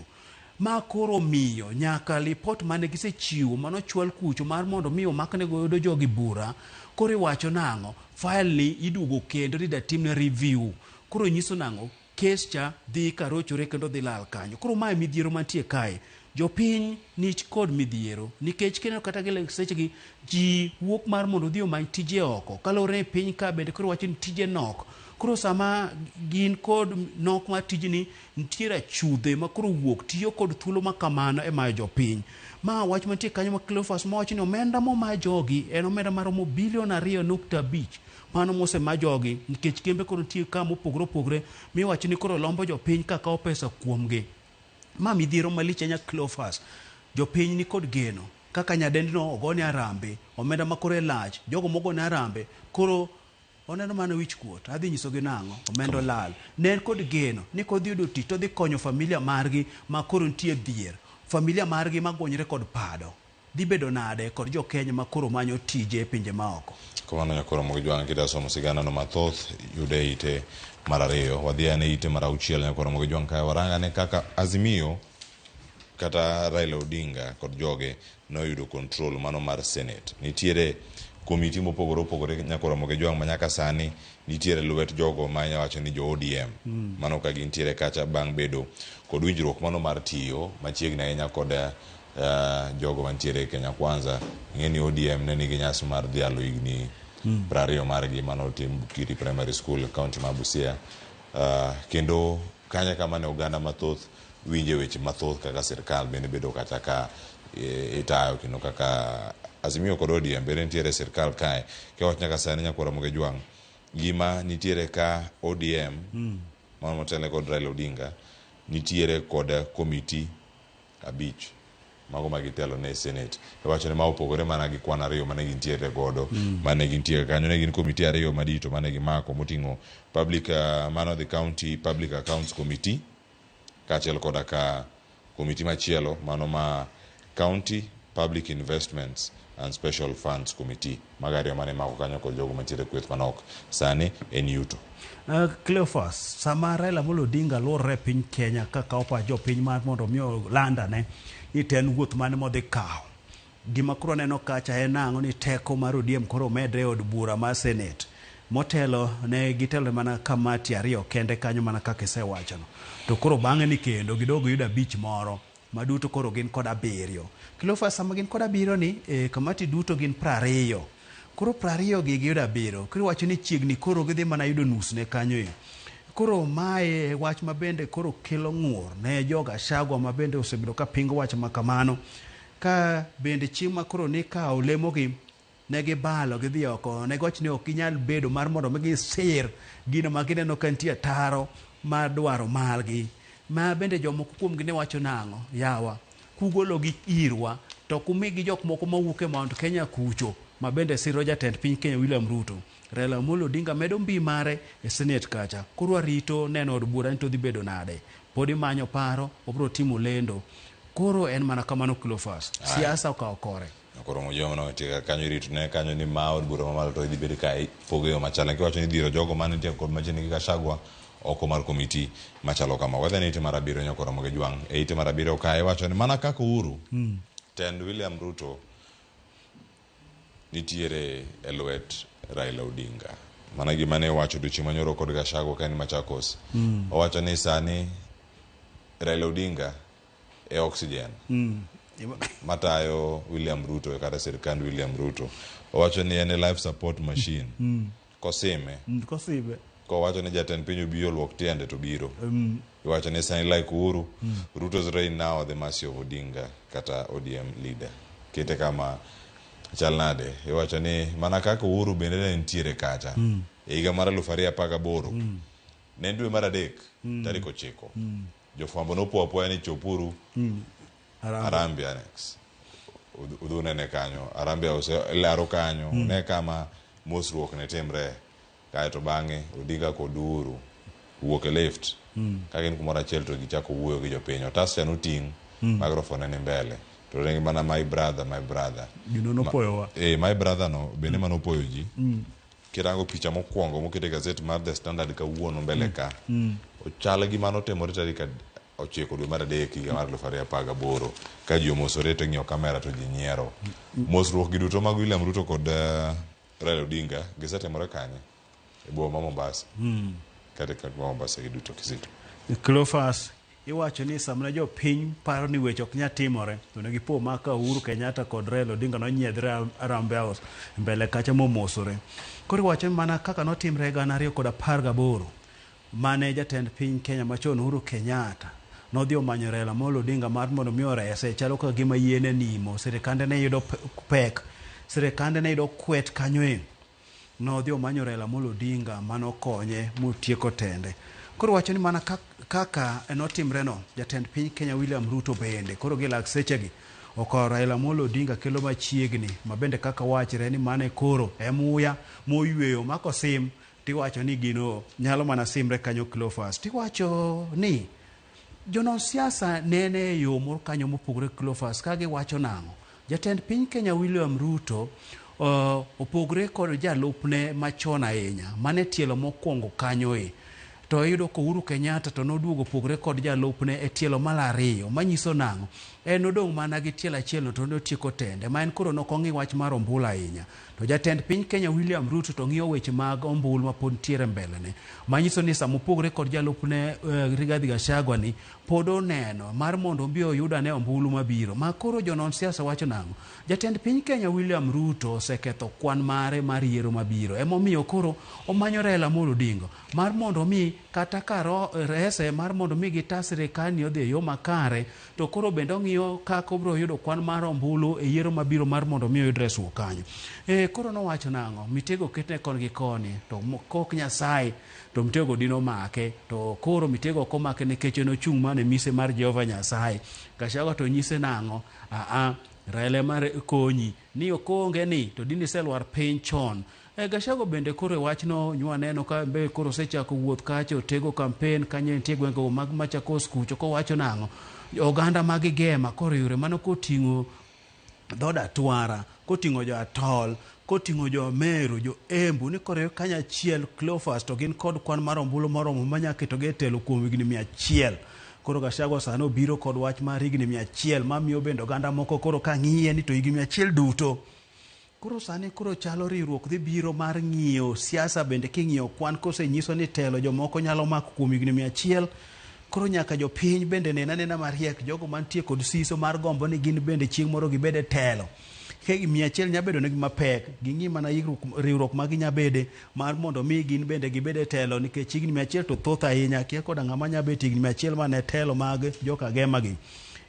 Ma koro omiyo nyaka lipot mane gisechiwo mane ochwal kucho mar mondo mi omakne godo jogi bura, koro iwacho nang'o? File ni iduogo kendo ni datimne review. Koro nyiso nang'o? Kes cha dhi ka rochore kendo dhi lal kanyo. Koro mae midhiero mantie kae. Jopiny nich kod midhiero. Nikech kineno kata gile sechegi ji wuok mar mondo odhi omany tije oko. Kalore ni piny ka bende koro wacho ni tije nok. Koro sama gin kod nok mar tijni nitiere achudhe ma koro wuok tiyo kod thuolo ma kamano e mayo jopiny. Ma wach mantie kanyo ma Cleophas ma wacho ni omenda momaa jogi en omenda maromo bilion ariyo nukta abich. Mano mose ma jogi nikech kembe koro nitie ka mopogore opogore miwacho ni koro lombo jopiny ka kawo pesa kuomgi. Ma midhiero malich ahinya Cleophas. Jopiny ni kod geno kaka nyadendino ogone arambe, omenda ma koro e lach, jogo mogone arambe koro oneno mana wich kuot. Adhi nyisogi nang'o? Omenda olal. Ne en kod geno ni kodhi yudo tich to odhi konyo familia margi ma koro nitie dhier. Familia margi ma gwonyre kod pado. Dhi bedo nade kod jo Kenya ma koro manyo tije e pinje ma oko? Kamano nyakoro Ramogi Jwang' kidasomo sigana no mathoth yud e ite mar ariyo. Wadhi ane ite mar auchiel nyakoro Ramogi Jwang' kae warang ane kaka Azimio kata Raila Odinga kod joge noyudo control mano mar Senate. Nitiere komiti mopogore opogore nyakoro Ramogi Jwang' manyaka sani nitiere lwet jogo ma inya wacho ni jo ODM. Mm. Mano ka gintiere kacha bang' bedo kod winjruok mano mar tiyo machiegni ahinya kod Uh, jogo mantiere e Kenya Kwanza ing'e ni ODM ne nigi nyasi mar dhialo higni mm. prariyo margi mane otim Bukiri Primary School e kaunti ma Busia uh, kendo kanya kama ne oganda mathoth winje weche mathoth kaka sirkal bende bedo kata ka e, itayo kendo kaka Azimio kod ODM bende nitiere sirkal kae kewach nyaka sani nyakwara moge jwang' gima nitiere ka ODM mm. mano motele kod Raila Odinga nitiere kod komiti abich mago ma gitelo ne senate e wacho ni ma opogore mana gi kwan ariyo mane gintiere godo mm. mane gintiere kanyo ne gin komiti ariyo madito mane gimako moting'o public uh, man of the county public accounts committee kaachiel koda ka komiti machielo mano ma county public investments and Special Funds Committee. Mago ariyo mane imako kanyo kod jogo mantiere e kweth manok. Sani en yuto. Uh, Cleophas, sama Raila Amolo Odinga luorre e piny Kenya kakawo pach jopiny mar mondo omi oland ane ni to en wuoth mane modhi kawo. Gima koro aneno kacha en ang'o ni teko mar ODM koro omedre e od bura mar Senate. Motelo ne gitelo mana kamati ariyo kende kanyo mana kaka isewachono. To koro bang'e ni kendo gidog giyud abich moro. Ma duto koro gin kod abiriyo. Cleophas sama gin kod abiriyo ni, eh, kamati duto gin prariyo. Koro prariyo gi giyudo abiriyo. Koro iwacho ni chiegni koro gidhi mana yudo nus ne kanyo e. Koro mae e wach ma bende koro kelo ng'ur ne jo Gachagua ma bende osebedo ka pingo wach ma kamano. Ka bende chieng' ma koro nikawo lemo gi, Ne gibalo gidhi oko, ne giwacho ni ok ginyal bedo mar mondo mi gisir gino ma gineno ka nitie ataro ma dwaro margi. Ma bende jomoko kuomgi ne wacho nang'o? Yawa, kugologi irwa to ok umigi jok moko mawuok e Mount Kenya kucho ma bende siro jatend piny Kenya William Ruto. Raila Amolo Odinga medo mbii mare e Senate kacha. Koro warito neno od bura ni to odhi bedo nade. Pod imanyo paro, wabiro timo lendo. Koro en mana kamano Cleophas. Siasa okawo kore. Koro mujoma no tiga kanyo rit ne kanyo ni ma od bura mamalo to idhi bedo ka ipogo yo machal. Lakini wacho ni dhiro jogo mane nitie kod machiegni gi Gachagua oko mar komiti machalo kama. Whether ni ite mar abiriyo nyako romo gi Jwang' e ite mar abiriyo ka iwacho ni mana kaka Uhuru tend William Ruto nitiere e lwet Raila Odinga. Mana gima ne iwacho odiochieng' manyoro kod Gachagua ka en Machakos. Owacho ni sani Raila Odinga e oxygen matayo William Ruto kata sirkand William Ruto owacho ni en e life support machine kosime Mm, Kosibe. kowacho ni jatend piny obi oluok tiende to biro Mm, iwacho ni sani like uhuru ruto's reign now the mercy of odinga kata odm leader kete kama chal nade iwacho ni mana kaka uhuru bende ne nitiere kacha e higa mar aluf ariyo apar gaboro ne en dwe mar adek tarik ochiko Jofwambo nopo apoya ni chopuru mm. Harambee Annex. Udh- Udhi unene kanyo. Harambee House laro kanyo. Ne kama mosruok ne timre. Kaeto bang'e Odinga kod Uhuru wuok e lift. Ka gin kumoro achiel to gichako wuoyo gi jopiny. Otas cha noting'. Microphone ne ni mbele. To ne mana my brother, my brother. Gino nopoyowa. Eh, my brother no bende manopoyo ji. kirango picha mokwongo moket e gazet mar The Standard kawuono mbele ka ochal gi mano otimore tarik ad- ochiko dwe mar adek higa mar eluf ariyo apar gaboro ka ji omosore to ing'iyo kamera to ji nyiero mosruokgi duto mag William Ruto kod eh, Raila Odinga gisetimore kanye e boma ma Mombasa kata e kaunti ma Mombasa gi duto Kizito Cleophas Iwacho ni samne jopiny paro ni weche ok nyal timore to ne gipo ma ka Uhuru Kenyatta kod Raila Odinga nonyiedhre Harambee House mbele kacha momosore. Koro iwacho ni mana kaka notimre gana ariyo kod apar gaboro mane jatend piny Kenya machon Uhuru Kenyatta nodhi omanyo Raila Amolo Odinga mar mondo mi orese chalo kaka gima yie ne nimo, sirikande ne yudo pek, sirikande ne yudo kwet kanyoe. Nodhi omanyo Raila Amolo Odinga mane okonye motieko tende. Koro wacho ni mana kaka notimreno, jatend piny Kenya William Ruto bende koro gi lak sechegi okawo Raila Amolo Odinga kelo machiegni, ma bende kaka wachre ni mane koro e muya moyweyo mako sim tiwacho ni gino nyalo mana simre kanyo Cleophas tiwacho ni Jonon siasa nene e yo moro kanyo mopogore gi Cleophas ka giwacho nang'o? Jatend piny Kenya William Ruto uh, opogore kod jalupne machon ahinya mane tielo mokwongo kanyoe to iyudo ko Uhuru Kenyatta to noduogo opogore kod jalupne e tielo mar ariyo manyiso nang'o? En odong' mana gi tielo achielno to notieko tende ma en koro nokong'i wach mar ombulu ahinya. To jatend piny Kenya William Ruto to ng'iyo weche mag ombulu ma pod nitiere mbelene. Manyiso ni sama opogore kod jalupne uh, Rigathi Gachagua ni pod oneno mar mondo obi oyud ane ombulu mabiro. Ma koro jonon siasa wacho nang'o? Jatend piny Kenya William Ruto oseketho kwan mare mar yiero mabiro. Emomiyo koro omanyo Raila Amolo Odinga mar mondo omi kata ka rese mar mondo omi gita sirikal ni odhi e yo makare to koro bende ong'iyo kaka obiro yudo kwan mar ombulu e yiero mabiro mar mondo mi oyud resruok kanyo. E, koro nowacho nang'o? Mitego ketne kon gi koni, to kok Nyasaye, to mitego dino make. To koro mitego ok omake nikech en ochung' mana e mise mar Jehova Nyasaye. Gachagua to nyise nang'o? Aa, Raila ema konyi. Ni ok oonge ni to dine iselwar piny chon. Eh, Gachagua bende koro e wachno nywa neno ka be koro osechako wuoth kacha otego kampen kanyo entie gwengego mag Machakos kucho kowacho nang'o? Oganda ma gigema koro yore mano koting'o dhood Atwara, koting'o jo Atol, koting'o jo Meru, jo Embu ni koro e kanyachiel Cleophas to gin kod kwan mar ombulu moromo manyaketogi e telo kuom higni mia achiel. Koro Gachagua sani obiro kod wach mar higni mia achiel mamiyo bende oganda moko koro ka ng'iye ni to higni mia achiel duto. Koro sani koro chalo riwruok dhi biro mar ng'iyo siasa bende king'iyo kwan kosenyiso ni telo jomoko nyalo mako kuom higni mia achiel. Koro nyaka jopiny bende nena nena mariek jogo mantie kod siso mar gombo ni gin bende chieng' moro gibed e telo. Ka gini mia achiel nya bedonegi mapek, ging'i mana yikruok- riwruok ma ginya bede mar mondo mi gin bende gibed e telo nikech higni mia achiel to thoth ahinya akia koda ng'ama nya bet higni mia achiel mana e telo mag joka Gema gi.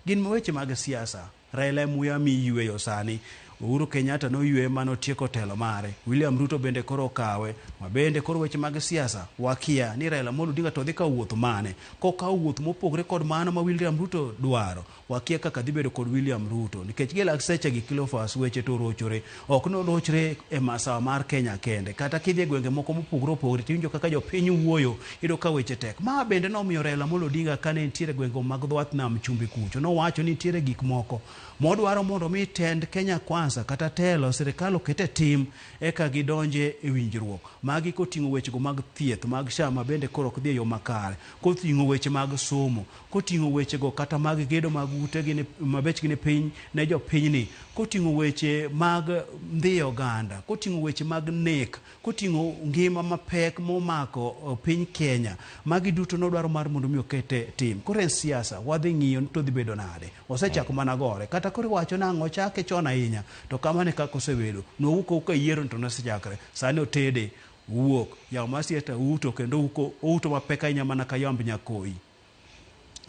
Gin weche mag siasa. Raila e muya mi yweyo sani. Uhuru Kenyatta noywe mane otieko telo mare. William Ruto bende koro okawe. Mabende koro weche mag siasa wakia ni Raila Amolo Odinga to dhi kawo wuoth mane. Kokawo wuoth mopogre kod mano ma William Ruto dwaro, Wakia kaka dhi bedo kod William Ruto nikech gi lak seche gi Cleophas weche to rochore. Ok norochre e masawa mar Kenya kende. Kata kidhi e gwenge moko mopogore opogore tiwinjo kaka jopiny wuoyo, iyudo ka weche tek. Ma bende nomiyo Raila Amolo Odinga kane entiere e gwenge mag dhwath nam chumbi kucho nowacho ni nitiere gik moko modwaro mondo mi tend Kenya Kwanza kata telo sirikal oket e tim eka gidonje e winjruok. Magi koting'o wechego mag thieth mag SHA mabende koro ok dhi e yo makare. Kothing'o weche mag somo. koting'o wechego kata mag gedo mag ute gi ni- ma bechgi ni piny ne jopinyni, koting'o weche mag ndhiyo oganda, koting'o weche mag nek, koting'o ngima mapek momako eh, piny Kenya. Magi duto nodwaro mar mondo mi oket e tim. Koro en siasa, wadhi ng'iyo ni to dhi bedo nade. Osechako mana gore. Kata koro iwacho nang'o, ochake chon ahinya. To kamano e kaka osebedo. Nwawuok awuok ka yiero ni to nosechakre. Sani otede, uwuok. Yawo mar siasa uto kendo uko- outo mapek ahinya mana ka yamb nyakoyi.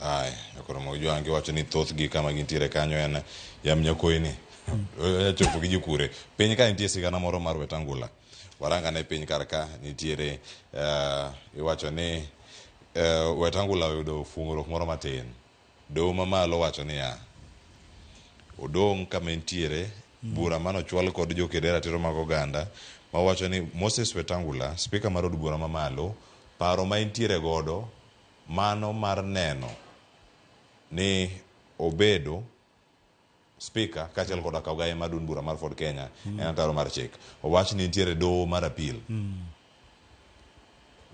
Aya, nyakoro ma ojwangi wacho ni thoth gi kama gintiere kanyo en yam nyakoyi ni. Onya chopo gi jokure. Piny ka nitie sigana moro mar Wetangula. Waranga ne piny kar ka nitiere eh, iwacho ni eh, Wetangula oyudo fuong'ruok moro matin. Doho mamalo wacho niya, odong' kama entiere bura mane ochwal kod jokede ratiro mag oganda mawacho ni Moses Wetangula, spika mar od bura mamalo, paro ma entiere godo mano mar neno ni obedo speaker kaachiel koda kaw gaye mar duond bura mar Ford Kenya en ataro mar chik. Owach ni nitiere doho mar appeal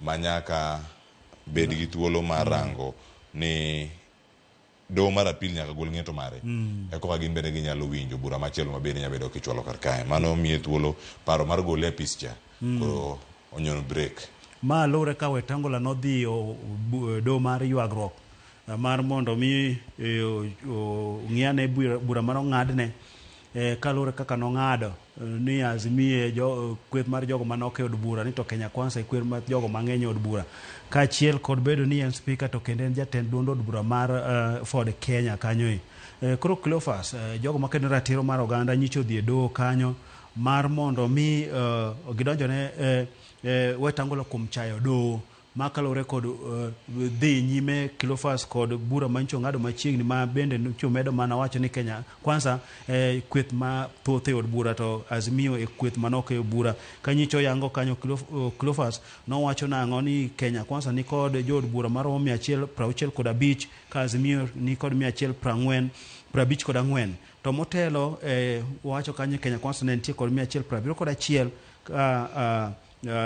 manyaka bed gi thuolo mar rango ni Doho mar apil nyaka gol ng'eto mare e koka gin bende ginyalo winjo bura machielo ma bende nyalo bedo kichwalo kar kae. Mano miye thuolo paro mar gole e apis cha koro onyono brek. Ma luwre ka Wetangula nodhi o- bu- e doho mar ywagruok eh, mar mondo mi eh, o- o- ong'i ane bura bura mane ong'adne eh, kaluwore kaka nong'ado eh, ni azimie jo, eh, kweth mar jogo manok e od bura ni to Kenya Kwanza e kweth mar jogo mang'eny e od bura kaachiel kod bedo ni en spika to kendo en jatend duond od bura mar eh, Ford Kenya kanyo e. Eh, koro Cleophas eh, jogo makedo ratiro mar oganda nyicho dhi e doho kanyo mar mondo mi eh, gidonjone eh, eh, Wetangula kuom chayo doho Ma kaluwore kod dhi nyime Cleophas kod bura ma nyicho ng'ado machiegni ma bende nyicho medo mana wacho ni Kenya Kwanza e kweth ma thoth e od bura to Azimio e kweth manok e od bura. Ka nyicho yango kanyo Cleophas nowacho nang'o ni Kenya Kwanza ni kod jo od bura maromo mia achiel prauchiel kod abich ka Azimio ni kod mia achiel prang'wen prabich kod ang'wen to motelo e wacho kanyo Kenya Kwanza ne nitie kod mia achiel prabiriyo kod achiel ka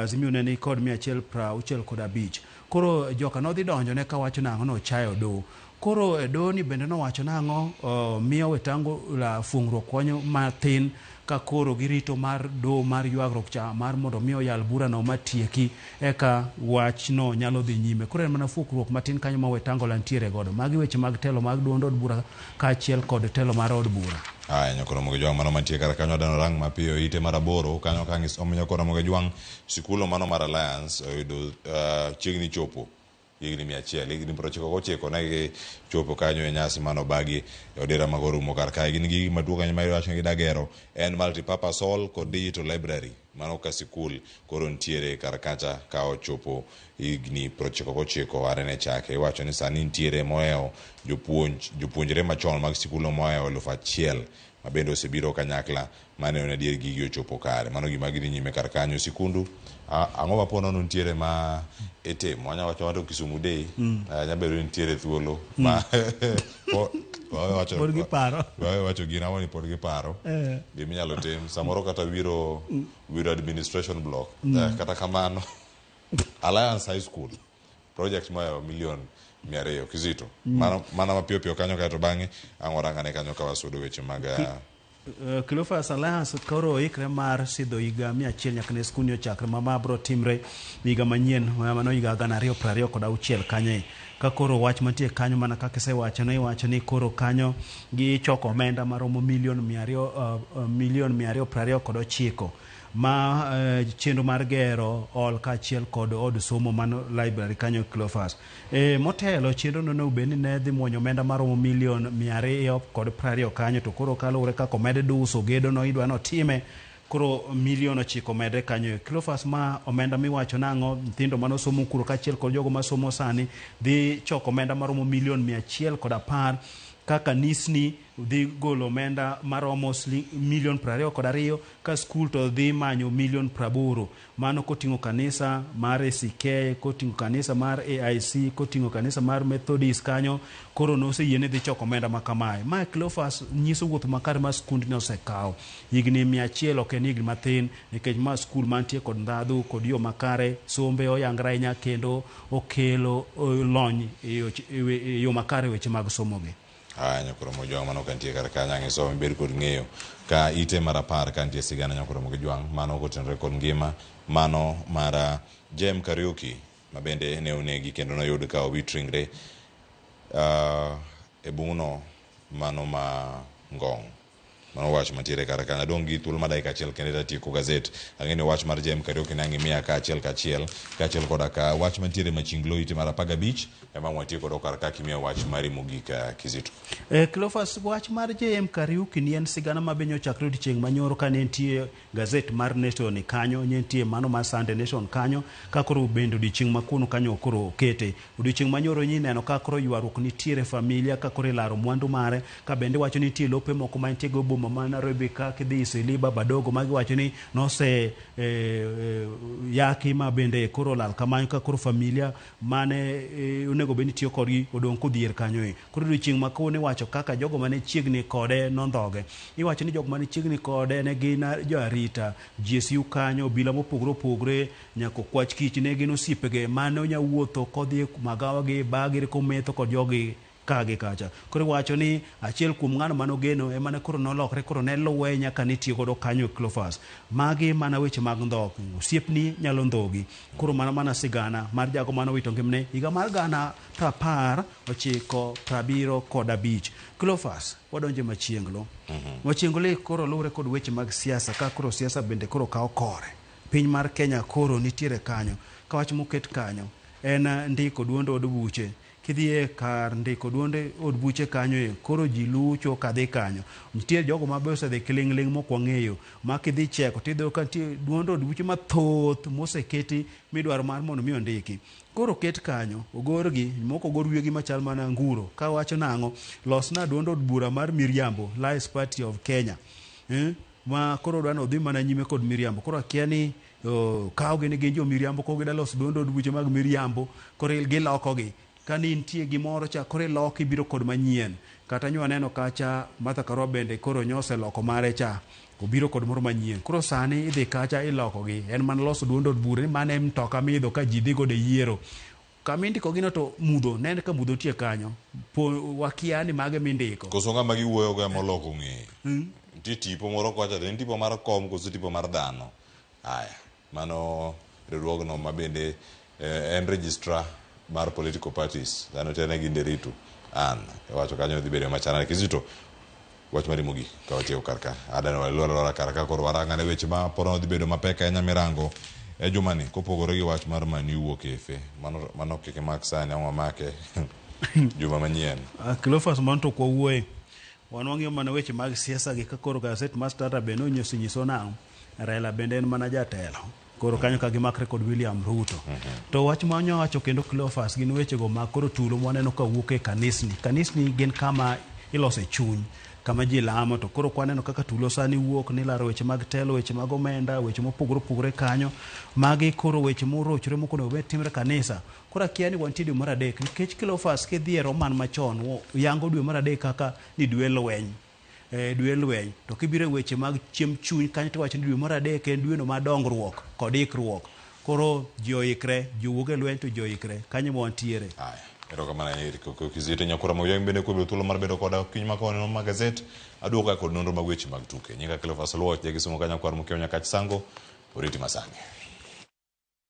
Azimio ne ni kod mia achiel prauchiel kod abich. Koro joka nodhi donjo ne kawacho nang'o nochayo do. Koro e do ni bende nowacho nang'o miyo wetango la fuong'ruok konyo mathin ka koro girito mar do mar yuagruok cha mar mondo mi oyal bura no matieki eka wach no nyalo dhi nyime. Koro en mana fuokruok matin kanyo ma wetango la nitiere godo. Magi weche mag telo mag duond od bura kaachiel kod telo mar od bura. Aya nyokoro moge jwang' mano mantie kar kanyo dano rang mapiyo ite mar aboro kanyo kang' isom nyokoro moge jwang' sikulo mano mar Alliance oyudo uh, chiegni chopo higni mia achiel higni piero ochiko gochiko ne gichopo kanyo e nyasi mano bagi e odera mago rumo kar kae gin gigi maduong' ahinya ma iwacho ni gidagero en multipurpose hall kod digital library Mano ka sikul koro nitiere kar kacha ka ochopo higni prochiko gochiko are ne chake. Iwacho ni sani nitiere mohewo jopuonj, jopuonjre machon mag sikulno mohewo eluf achiel ma bende osebiro kanyakla ma neno ni adier gigi ochopo kare. Mano gima gidhi nyime kar kanyo. Sikundu, a- ang'o ma po nono nitiere ma itimo? Anya wacho wato Kisumu Day, eh, nya bedo ni nitiere thuolo ma Po- wawe wacho- Pod giparo. wawe wacho gin ang'o ni pod giparo Eh. gima inyalo tim samoro kata wiro wiro administration block Mm. Eh, kata kamano alliance high school project moyawo milion mia ariyo kizito Mm. Mano- mana mapiyo piyo kanyo kaeto bang'e ang'orangane kanyo ka wasudo weche mag ah, Eh, Cleophas Alliance koro oikre mar sidho higa mia achiel nyaka ne skundni ochakre ma ma biro timre higa manyien ma- mano higa gana ariyo piero ariyo kod auchiel kanyo e. ka koro wach mantie kanyo mana kaka isewacho ne iwacho ni koro kanyo gichoko omenda maromo milion mia ariyo eh, eh, milion mia ariyo piero ariyo kod ochiko ma eh, chenro mar gero hall kaachiel kod od somo mano library kanyo Cleophas E, motelo chenro no ne obed ni ne dhi mwonyo omenda maromo milion mia ariyo kod prariyo kanyo to koro kaluwore kaka omed duso gedo no idwa notime koro milion ochiko omedre kanyo e Cleophas ma omenda miwacho nang'o nyithindo mane osomo kuro kaachiel kod jogo masomo sani dhi choko omenda maromo milion mia achiel kod apar ka kanisni dhi golo omenda maromo siling- milion prariyo kod ariyo ka skul to dhi manyo milion praboro Mano koting'o kanisa mar ACK, koting'o kanisa mar AIC, koting'o kanisa mar Methodist kanyo, koro noseyie ni dhi choko omenda ma kamae. Ma Cleophas nyiso wuoth makare ma skundni osekawo. Higni mia achiel ok en higni mathin nikech ma skul mantie kod ndhadhu kod yo makare, sombe oyangre ahinya kendo okelo lony e yo makare e weche mag somogi. Aya nyakoromo ojwang' mano ka nitie kar kanyo ang' isom ibed kod ng'eyo ka ite mar apar ka nitie sigana nyakoromo gi jwang' mano kotenore kod ngima mano mar ah, Jem Kariuki ma bende ne onegi kendo noyud ka owit ringre ah, e bung'no mano ma Ngong'. Mano wach mantiere kar kanyo. Adong' gi thuolo ma dakika achiel kende to atieko gazet. Ang'e ni wach mar JM Kariuki ne ang' imiya ka achiel ka achiel, ka achiel koda ka wach mantiere Maching Law ite mar apar gabich ema ang' watiek godo kar ka kimiya wach mari mogik eh, Kizito. Eh, Cleophas, wach mar JM Kariuki ni en sigana ma be nyochakre odiechieng' manyoro ka ne nitie Gazette mar Nation ni kanyo, nyentie mano mar Sunday Nation kanyo, ka koro bende odiochieng' ma kuno kanyo koro okete. Odiochieng' ma nyoro nyi ineno ka koro ywaruok nitiere e familia ka koro ilaro mwandu mare, ka bende iwacho ni nitie lope moko ma nitiego e boma ma Nairobi ka kidhi Eastleigh, Baba Dogo magi iwacho ni nose yaki ma bende koro olal kamano ka koro familia mane onego bed ni tiyo kodgi odong' kodhier kanyo e. Koro odiochieng' ma kawuono iwacho kaka jogo mane chiegni kode nondhoge. Iwacho ni jok mane chiegni kode ne gin jo arita, GSU kanyo, obila mopogore opogore, nyaka okwach kich ne gin osiepege mane onya wuotho kodhi e magawa gi, bar gi kometho kod jogi. Ka gi kacha. Koro iwacho ni achiel kuom ng'ano mane ogeno ema ne koro nolokre koro ne luwe nyaka ne tiyo godo kanyo e Cleophas. Magi mana weche mag ndhok. Osiepni nyalo ndhogi. Koro mano mana sigana mar jago mane owito ngimne higa mar gana prapar ochiko prabiro kod abich. Cleophas, wadonjo e Machienglo. Machienglo e koro luwre kod weche mag siasa ka koro siasa bende koro kawo kore. Piny mar Kenya koro nitiere kanyo. Ka wach moket kanyo en ndiko duond od buche. Kidhie kar ndiko duond od buche kanyo e koro ji lucho kadhi kanyo. Nitie jogo ma be osedhi kiling'ling' mok wang'eyo ma kidhi cheko tidhi ka nitie duond od buche mathoth moseketi midwaro mar mondo mi ondiki. Koro oket kanyo, ogorgi, moko ogor wiyegi machal mana nguro ka wacho nang'o, losna duond od bura mar miriambo, Lies Party of Kenya. Eh, ma koro dwani odhi mana nyime kod miriambo. Koro akia ni Kawogi ni gin jomiriambo koro gidwa loso duond od buche mag miriambo koro gilokogi. Kane intie gimoro cha koro iloko ibiro kod manyien. Kata nyo aneno kacha Martha Karua bende koro nyo oseloko mare cha obiro kod moro manyien. Koro sani idhi kacha ilokogi. En mana loso duond od bura ni mano e mtoka miidho ka ji dhi godo e yiero. Kama indikogino to mudho, ne en ka mudho nitie kanyo. Po wakia ni mage mindiko. Koso ng'ama giwuoyo go ema oloko ng'eye. Nitie tipo moro kocha to en tipo mar kom koso tipo mar dhano. Aya, mano riwruogno ma bende eh, en registrar mar political parties. Dhano te ne gi Nderitu. An, iwacho kanyo dhi bedo ema chana Kizito. Wach mari mogik ka wachiewo kar ka adano walwar alwara kar ka koro warang ane weche ma poro dhi bedo mapek ahinya mirango e jumani kopogore gi wach mar mani wuok efe mano mano kik imak sani ang'o make juma manyien Ah, Cleophas mano to kwawuoye wan wang'iyo mana weche mag siasa gi ka koro gaset mar Standard bende nonyiso nyiso nang'o Raila bende en mana jatelo koro kanyo ka gimakre kod William Ruto. Mm -hmm. To wach ma nyawacho kendo Cleophas gin wechego ma koro tulo mwaneno ka wuok e kanisni. Kanisni gin kama ilose chuny kama ji lamo to koro kwaneno kaka tulo sani wuok ni laro weche mag telo weche mag omenda weche mopogore opogore kanyo magi koro weche morochre moko onego bed timre kanisa koro akia ni wantie dwe mar adek nikech kilofas kidhi e roman machon yango dwe mar adek kaka ni dwe lweny e dwe lweny. To kibiro e weche mag chiemb chuny kanyo tiwacho ni dwe mar adek en dweno mar dongruok kod ikruok. Koro ji oikre, ji owuog e lweny to ji oikre. Kanyo ema wantiere. Haya, erokamano ahinya Eric Oke Kizito Nyakura Mauyang bende kuom bedo thuolo mar bedo koda kiny ma kawuono ma gazet. Aduoga kod nonro mag weche mag tuke. Nyinga Cleophas Oluoch, ja Kisumo ka Nyakwar Mkeo Nyakach Sango. Oriti ma sani.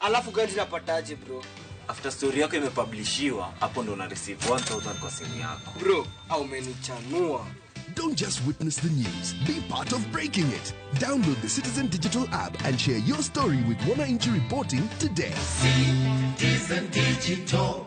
alafu gari napataje bro after story yako imepublishiwa hapo ndo una receive 1000 kwa simu yako bro au umenichanua Don't just witness the news, be part of breaking it. Download the Citizen Digital app and share your story with Wananchi Reporting today. Citizen Digital.